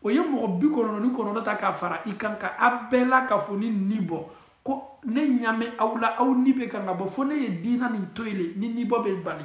[SPEAKER 1] o ye mɔgɔ bi kɔnɔntɔn ni kɔnɔntɔn ta k'a fara i kan ka a bɛɛ lakafoni ni bɔ ko ne ɲa bɛ aw la aw ni bɛ kan ka bɔ fo ne ye diina nin to yen le nin nibɔ bɛ bali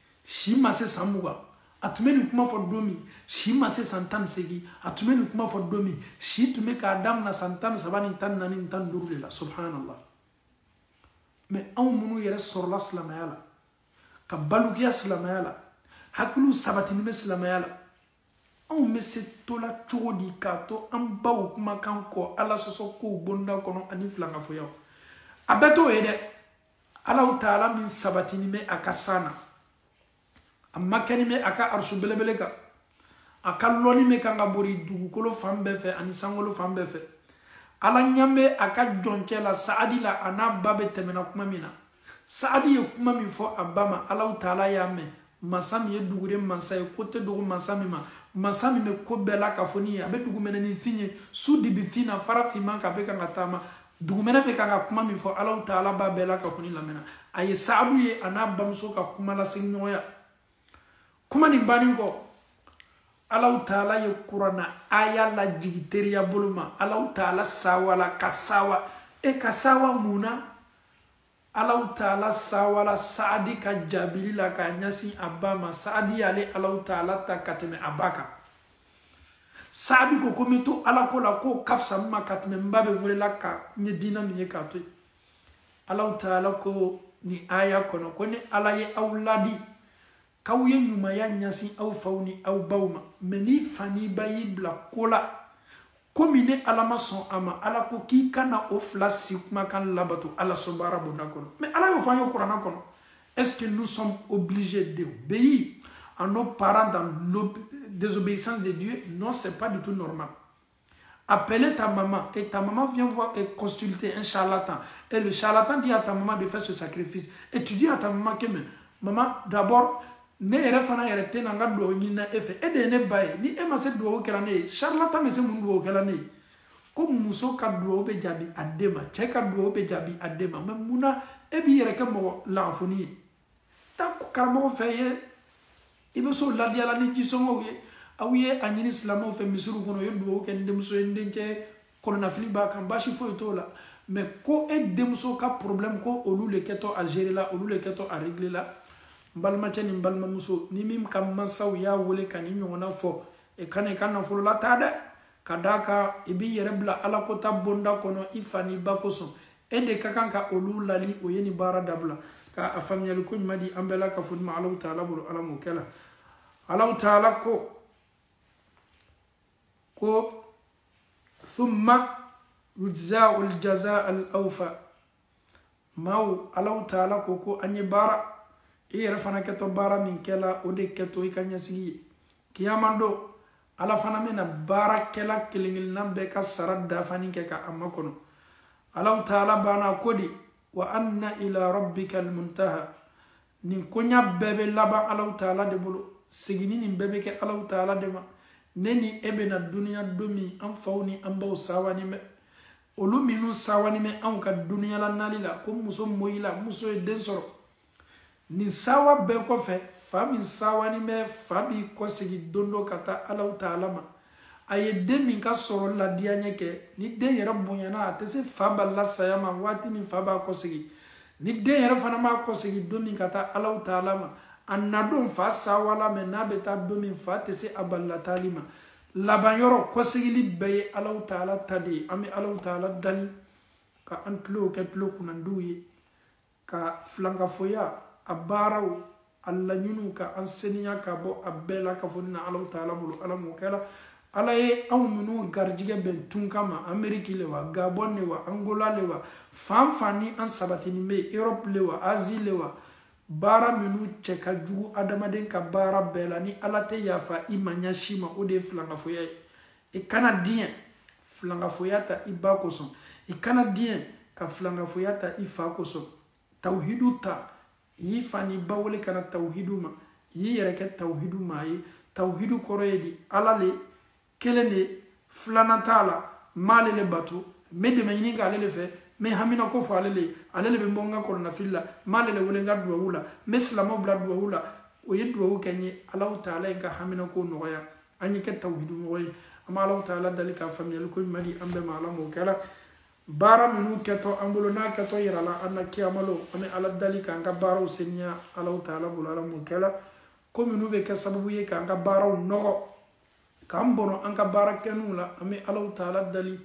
[SPEAKER 1] si ma se san mugan a tun bɛ nin kuma fɔ don min si ma se san tan ni seegin a tun bɛ nin kuma fɔ don min si tun bɛ k'a daminɛ san tan ni saba ni tan ni naani ni tan ni duuru de la subhanallah mais anw minnu yɛrɛ sɔrɔla silamɛya la ka balikuya silamɛya la hakiliw sabatini bɛ silamɛya la anw bɛ se tola cogo di k'a to an baw kumakan kɔ ala sɔsɔ kow bonda kɔnɔ ani filankafoyaw a bɛɛ t'o ye dɛ alaw taala min sabatini bɛ a ka san na a makɛni bɛ a ka arisu belebele kan a ka lɔnni bɛ kan ka bori dugukolo fan bɛɛ fɛ ani sankolo fan bɛɛ fɛ ala ɲa bɛ a ka jɔnkɛ la saadi la a n'a ba bɛ tɛmɛna kuma min na saadi ye kuma min fɔ a ba ma alaw taala y'a mɛn mansa min ye dugure mansa ye ko tɛ dogo mansa min ma mansa min bɛ ko bɛɛ lakafoni ye a bɛ dugumɛnɛnin fin ye su dibi fin na fara finman kan bɛ kan ka taama dugumɛnɛ bɛ kan ka kuma min fɔ alaw taala b'a bɛɛ lakafoni lamɛnna a ye sababu ye a n'a bamuso ka kuma lasegin ɲɔgɔnya kuma nin bannen kɔ alaw taala ye kurana aya lajigi teriya bolo ma alaw taala sawala ka sawa e ka sawa mun na alaw taala sawala saadi ka jaabili la k'a ɲɛsin a ba ma saadi y'ale alaw taala ta ka tɛmɛ a ba kan saadi ko ko n bɛ to alako la k'o ka fisa n ma ka tɛmɛ n ba bɛ welela ka n ye diinɛ min ye k'a to yen alaw taala ko nin aya kɔnɔ ko ni ala ye aw ladi k'aw ye ɲumanya ɲasin aw faw ni aw baw ma mɛ n'i fa n'i ba y'i bila ko la ko min ne ala ma sɔn a ma ala ko k'i kana o fila si kumakan labato ala sɔnbaara bonda kɔnɔ masa ala y'o fɔ an ye kurana kɔnɔ est-ce que nous sommes obligés d'obéir à nos parents dans la désobéissance de Dieu, non, ce n'est pas du tout normal. Appelez ta maman et ta maman vient voir et consulter un charlatan. Et le charlatan dit à ta maman de faire ce sacrifice. Et tu dis à ta maman que, maman, d'abord, ne yɛrɛ fana yɛrɛ tɛ na n ka dugawu ɲinina e fɛ e de ye ne ba ye ni e ma se dugawu kɛla ne ye charlatan bɛ se mun dugawu kɛla ne ye ko muso ka dugawu bɛ jaabi a den ma cɛ ka dugawu bɛ jaabi a den ma mɛ mun na e b'i yɛrɛ kɛ mɔgɔ lagafoni ye taa karamɔgɔ fɛ yen i bɛ s'o ladiyala ni jisɔngɔw ye aw ye a ɲini silamɛw fɛ misiriw kɔnɔ u ye dugawu kɛ ni denmuso ye n denkɛ kɔnɔnafili b'a kan baasi foyi t'o la mɛ ko e denmuso ka problème ko olu le kɛtɔ a gérer la olu le kɛtɔ a régler la n balimacɛ ni n balimamuso ni min ka mansaw y'a wele ka nin ɲɔgɔnna fɔ e kana i ka nafolo la taa dɛ ka d'a kan i b'i yɛrɛ bila alakota bonda kɔnɔ i fa n'i ba kosɔn e de ka kan ka olu laadi o ye nin baara dabila ka a faamuyali ko ɲuman di an bɛɛ lakafolen ma alaw taala bolo ala m'o kɛla alaw taala ko ko thumma yujzahu ljaza al awfa maaw alaw taala ko ko an ye baara i yɛrɛ fana kɛtɔ baara min kɛla o de kɛtɔ i ka ɲɛsigi ye kiyama don ala fana bɛna baarakɛla kelen kelenna bɛɛ ka sara dafani kɛ ka a makɔnɔ alaw taala banna ko di wa anna ila rabbika almuntaha nin koɲa bɛɛ bɛ laban alaw taala de bolo seginni nin bɛɛ bɛ kɛ alaw taala de ma ne ni e bɛna duniya don min an faw ni an baw sawani bɛ olu minnu sawani bɛ anw ka duniya la nali la ko muso moyila muso ye den sɔrɔ nin sawa bɛɛ kɔfɛ fa min sawani bɛ fa b'i kɔsegi don dɔ ka taa alaw taala ma a ye den min ka sɔrɔ ladiyaɲɛ kɛ ni den yɛrɛ bonyana a tɛ se fa balila saya ma waati min fa b'a kɔsegi ni den yɛrɛ fana b'a kɔsegi don min ka taa alaw taala ma a na don fa sawala mɛ n'a bɛ taa don min fa tɛ se a balila taali ma laban yɔrɔ kɔsegili bɛɛ ye alaw taala ta de ye an bɛ alaw taala dali ka an tulow kɛ tulo kunnandiw ye ka filankafoya a baaraw a laɲiniw ka an seniya ka bɔ a bɛɛ la ka fɔ ni na alaw taala bolo ala m'o kɛra ala ye anw minnu garijigɛ bɛn tunkan ma ameriki le wa gabɔn le wa angola le wa fan fan ni an sabatinin bɛ europe le wa asie le wa baara minnu cɛ ka jugu adamaden ka baara bɛɛ la ni ala tɛ yafa i ma ɲa si ma o de ye filankafoya ye i kana diɲɛ filankafoya ta i ba kosɔn i kana diɲɛ ka filankafoya ta i fa kosɔn tawuhidu ta y'i fa n'i ba wele ka na tawuhidu ma y'i yɛrɛ kɛ tawuhidu maa ye tawuhidu kɔrɔ ye di ala le kelen de filanan t'a la n b'ale le bato n bɛ dɛmɛ ɲini k'ale le fɛ n bɛ hamina ko fɔ ale le ye ale le bɛ n bɔ n ka kɔnɔnafili la n b'ale le wele n ka duwawu la n bɛ silamɛw bila duwawu la o ye duwawu kɛ n ye alaw taala ye n ka hamina ko nɔgɔya an ye kɛ tawuhidu mɔgɔ ye an bɛ alaw taala dali ka faamuyali ko ɲuman di an bɛɛ ma ala m'o kɛra baara minnu kɛtɔ an bolo n'a kɛtɔ yira la an na kiyamalon an bɛ ala dali k'an ka baaraw seniya alaw taala bolo ala m'o kɛra ko minnu bɛ kɛ sababu ye k'an ka baaraw nɔgɔ k'an bɔnɔ an ka baara kɛninw la an bɛ alaw taala dali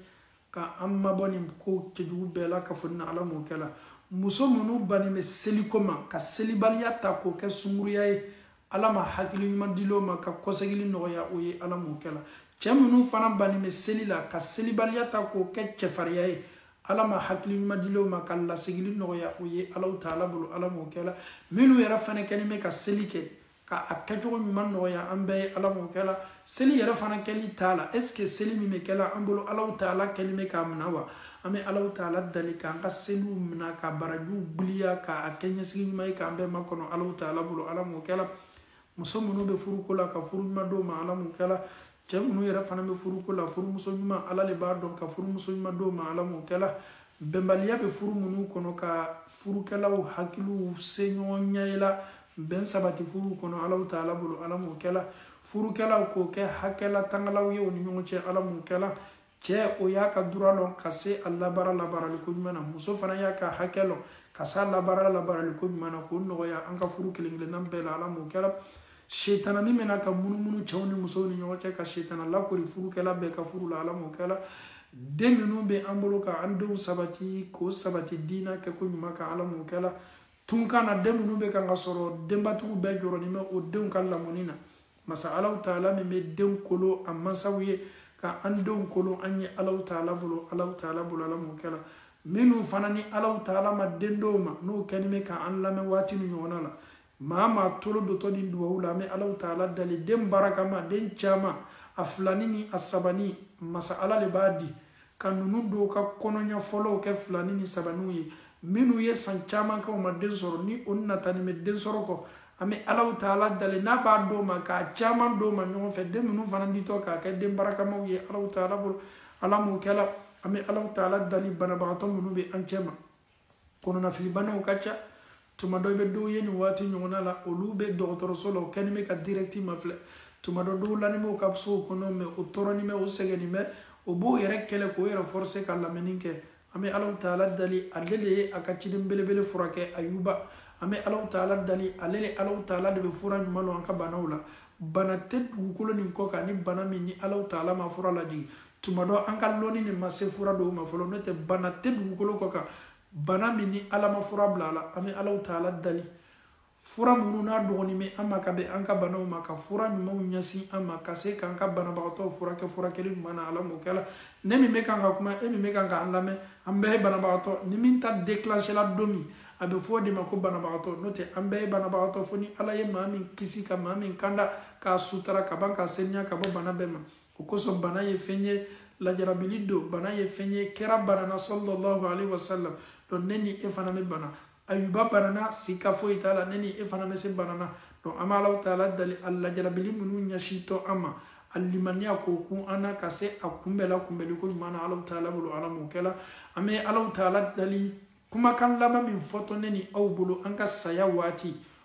[SPEAKER 1] ka an mabɔ nin ko cɛjugu bɛɛ la ka fɔ ni ala m'o kɛla muso minnu bannen bɛ seliko ma ka selibaliya ta k'o kɛ sunguruya ye ala ma hakili ɲuman dil'o ma ka kɔsegili nɔgɔya o ye ala m'o kɛla cɛ minnu fana bannen bɛ seli la ka selibaliya ta k'o kɛ cɛfariya ye ala ma hakili ɲuman dil'o ma ka lasegili nɔgɔya o ye alaw taala bolo ala m'o kɛla minnu yɛrɛ fana kɛlen bɛ ka seli kɛ ka a kɛcogo ɲuman nɔgɔya an bɛɛ ye ala m'o kɛla seli yɛrɛ fana kɛli t'a la est ce que seli min bɛ kɛla an bolo alaw taala kɛlen bɛ k'a minɛ wa an bɛ alaw taala dali k'an ka seliw minɛ ka barajiw giliya k'a kɛ ɲɛsigi ɲuman ye k'an bɛɛ makɔnɔ alaw taala bolo ala m'o kɛla muso minnu bɛ furuko la ka furu ɲuman d'o ma ala m'o kɛla cɛ minnu yɛrɛ fana bɛ furuko la furumuso ɲuman ala le b'a dɔn ka furumuso ɲuman d'o ma ala m'o kɛla bɛnbaliya bɛ furu minnu kɔnɔ ka furukɛlaw hakiliw se ɲɔgɔn ɲɛ la bɛn sabati furuw kɔnɔ alaw taala bolo ala m'o kɛla furukɛlaw k'o kɛ hakɛlatangalaw ye u ni ɲɔgɔn cɛ ala m'o kɛla cɛ o y'a ka droit lɔn ka se a labaara labaaraliko ɲuman na muso fana y'a ka hakɛ lɔn ka se a labaara labaaraliko ɲuman na k'o nɔgɔya an ka furu kelen kelenna bɛɛ la ala m'o kɛra setana min bɛ na ka munumunu cɛw ni musow ni ɲɔgɔn cɛ ka setana lakɔri furukɛla bɛɛ ka furu la ala m'o kɛra den minnu bɛ an bolo ka an denw sabati k'o sabati diina kɛko ɲuman kan ala m'o kɛra tunkan na den minnu bɛ kan ka sɔrɔ denbatigiw bɛɛ jɔrɔnin bɛ o denw ka lamɔni na masa alaw taala min bɛ denw kolo a mansaw ye ka an denw kolo an ye alaw taala bolo alaw taala bolo ala m'o kɛla minnu fana ni alaw taala ma den d'o ma n'o kɛni bɛ ka an lamɛn waati nin ɲɔgɔnna la maa maa tolo dotɔ nin duwawu la an bɛ alaw taala dali den barakama den caman a filani ni a sabani masa ala de b'a di ka ninnu dɔw ka kɔnɔya fɔlɔw kɛ filani ni sabaniw ye minnu ye san caman kɛ u ma den sɔrɔ ni o natanin bɛ den sɔrɔ kɔ an bɛ alaw taala dali n'a b'a d'o ma k'a caman d'o ma ɲɔgɔn fɛ den minnu fana ditɔ k'a kɛ den barakamaw ye alaw taala bolo ala m'o kɛla an bɛ alaw taala dali banabagatɔ minnu bɛ an cɛ ma kɔnɔnafilibanaw ka ca tuma dɔ i bɛ dɔw ye nin waati ɲɔgɔnna la olu bɛ dɔgɔtɔrɔso la o kɛni bɛ ka dirɛkiti mafilɛ tuma dɔ dɔw lanin b'o ka sow kɔnɔ mɛ o tɔɔrɔnin bɛ o sɛgɛnnin bɛ o b'o yɛrɛ kɛlɛ k'o yɛrɛ fɔrɔse ka lamɛnni kɛ an bɛ alaw taala dali ale de ye a ka ciden belebele furakɛ ayuba an bɛ alaw taala dali ale de alaw taala de bɛ fura ɲuman don an ka banaw la bana tɛ dugukolo nin kɔ kan ni bana min ni alaw taala ma fura lajigin tuma dɔ an ka lɔni de ma se fura dɔw ma fɔlɔ n'o tɛ bana tɛ dugukolo kɔ kan bana min ni ala ma fura bila a la an bɛ alaw taala dali fura minnu n'a dɔgɔnin bɛ an ma ka bɛn an ka banaw ma ka fura ɲumanw ɲɛsin an ma ka se k'an ka banabagatɔw furakɛ furakɛli ɲuman na ala m'o kɛla ne min bɛ kan ka kuma e min bɛ kan k'an lamɛn an bɛɛ ye banabagatɔ ni min ta la don min a bɛ fɔ o de ma ko banabagatɔ n'o tɛ an bɛɛ ye banabagatɔ fo ni ala ye maa min kisi ka maa min kanda k'a sutara ka ban k'a seniya ka bɔ bana bɛɛ ma o kosɔn bana ye fɛn ye lajarabili don bana ye fɛn ye kira banana sallallahu alaihi wasallam donc ne ni e fana bɛ bana ayuba banana sika foyi t'a la ne ni e fana bɛ se banana donc an bɛ alaw taala dali a lajarabili minnu ɲɛsintɔ an ma a limaniya k'o kun an na ka se a kunbɛ la kunbɛli ko ɲuman na alaw taala bolo ala m'o kɛla an bɛ alaw taala dali kumakan laban min fɔtɔ ne ni aw bolo an ka saya waati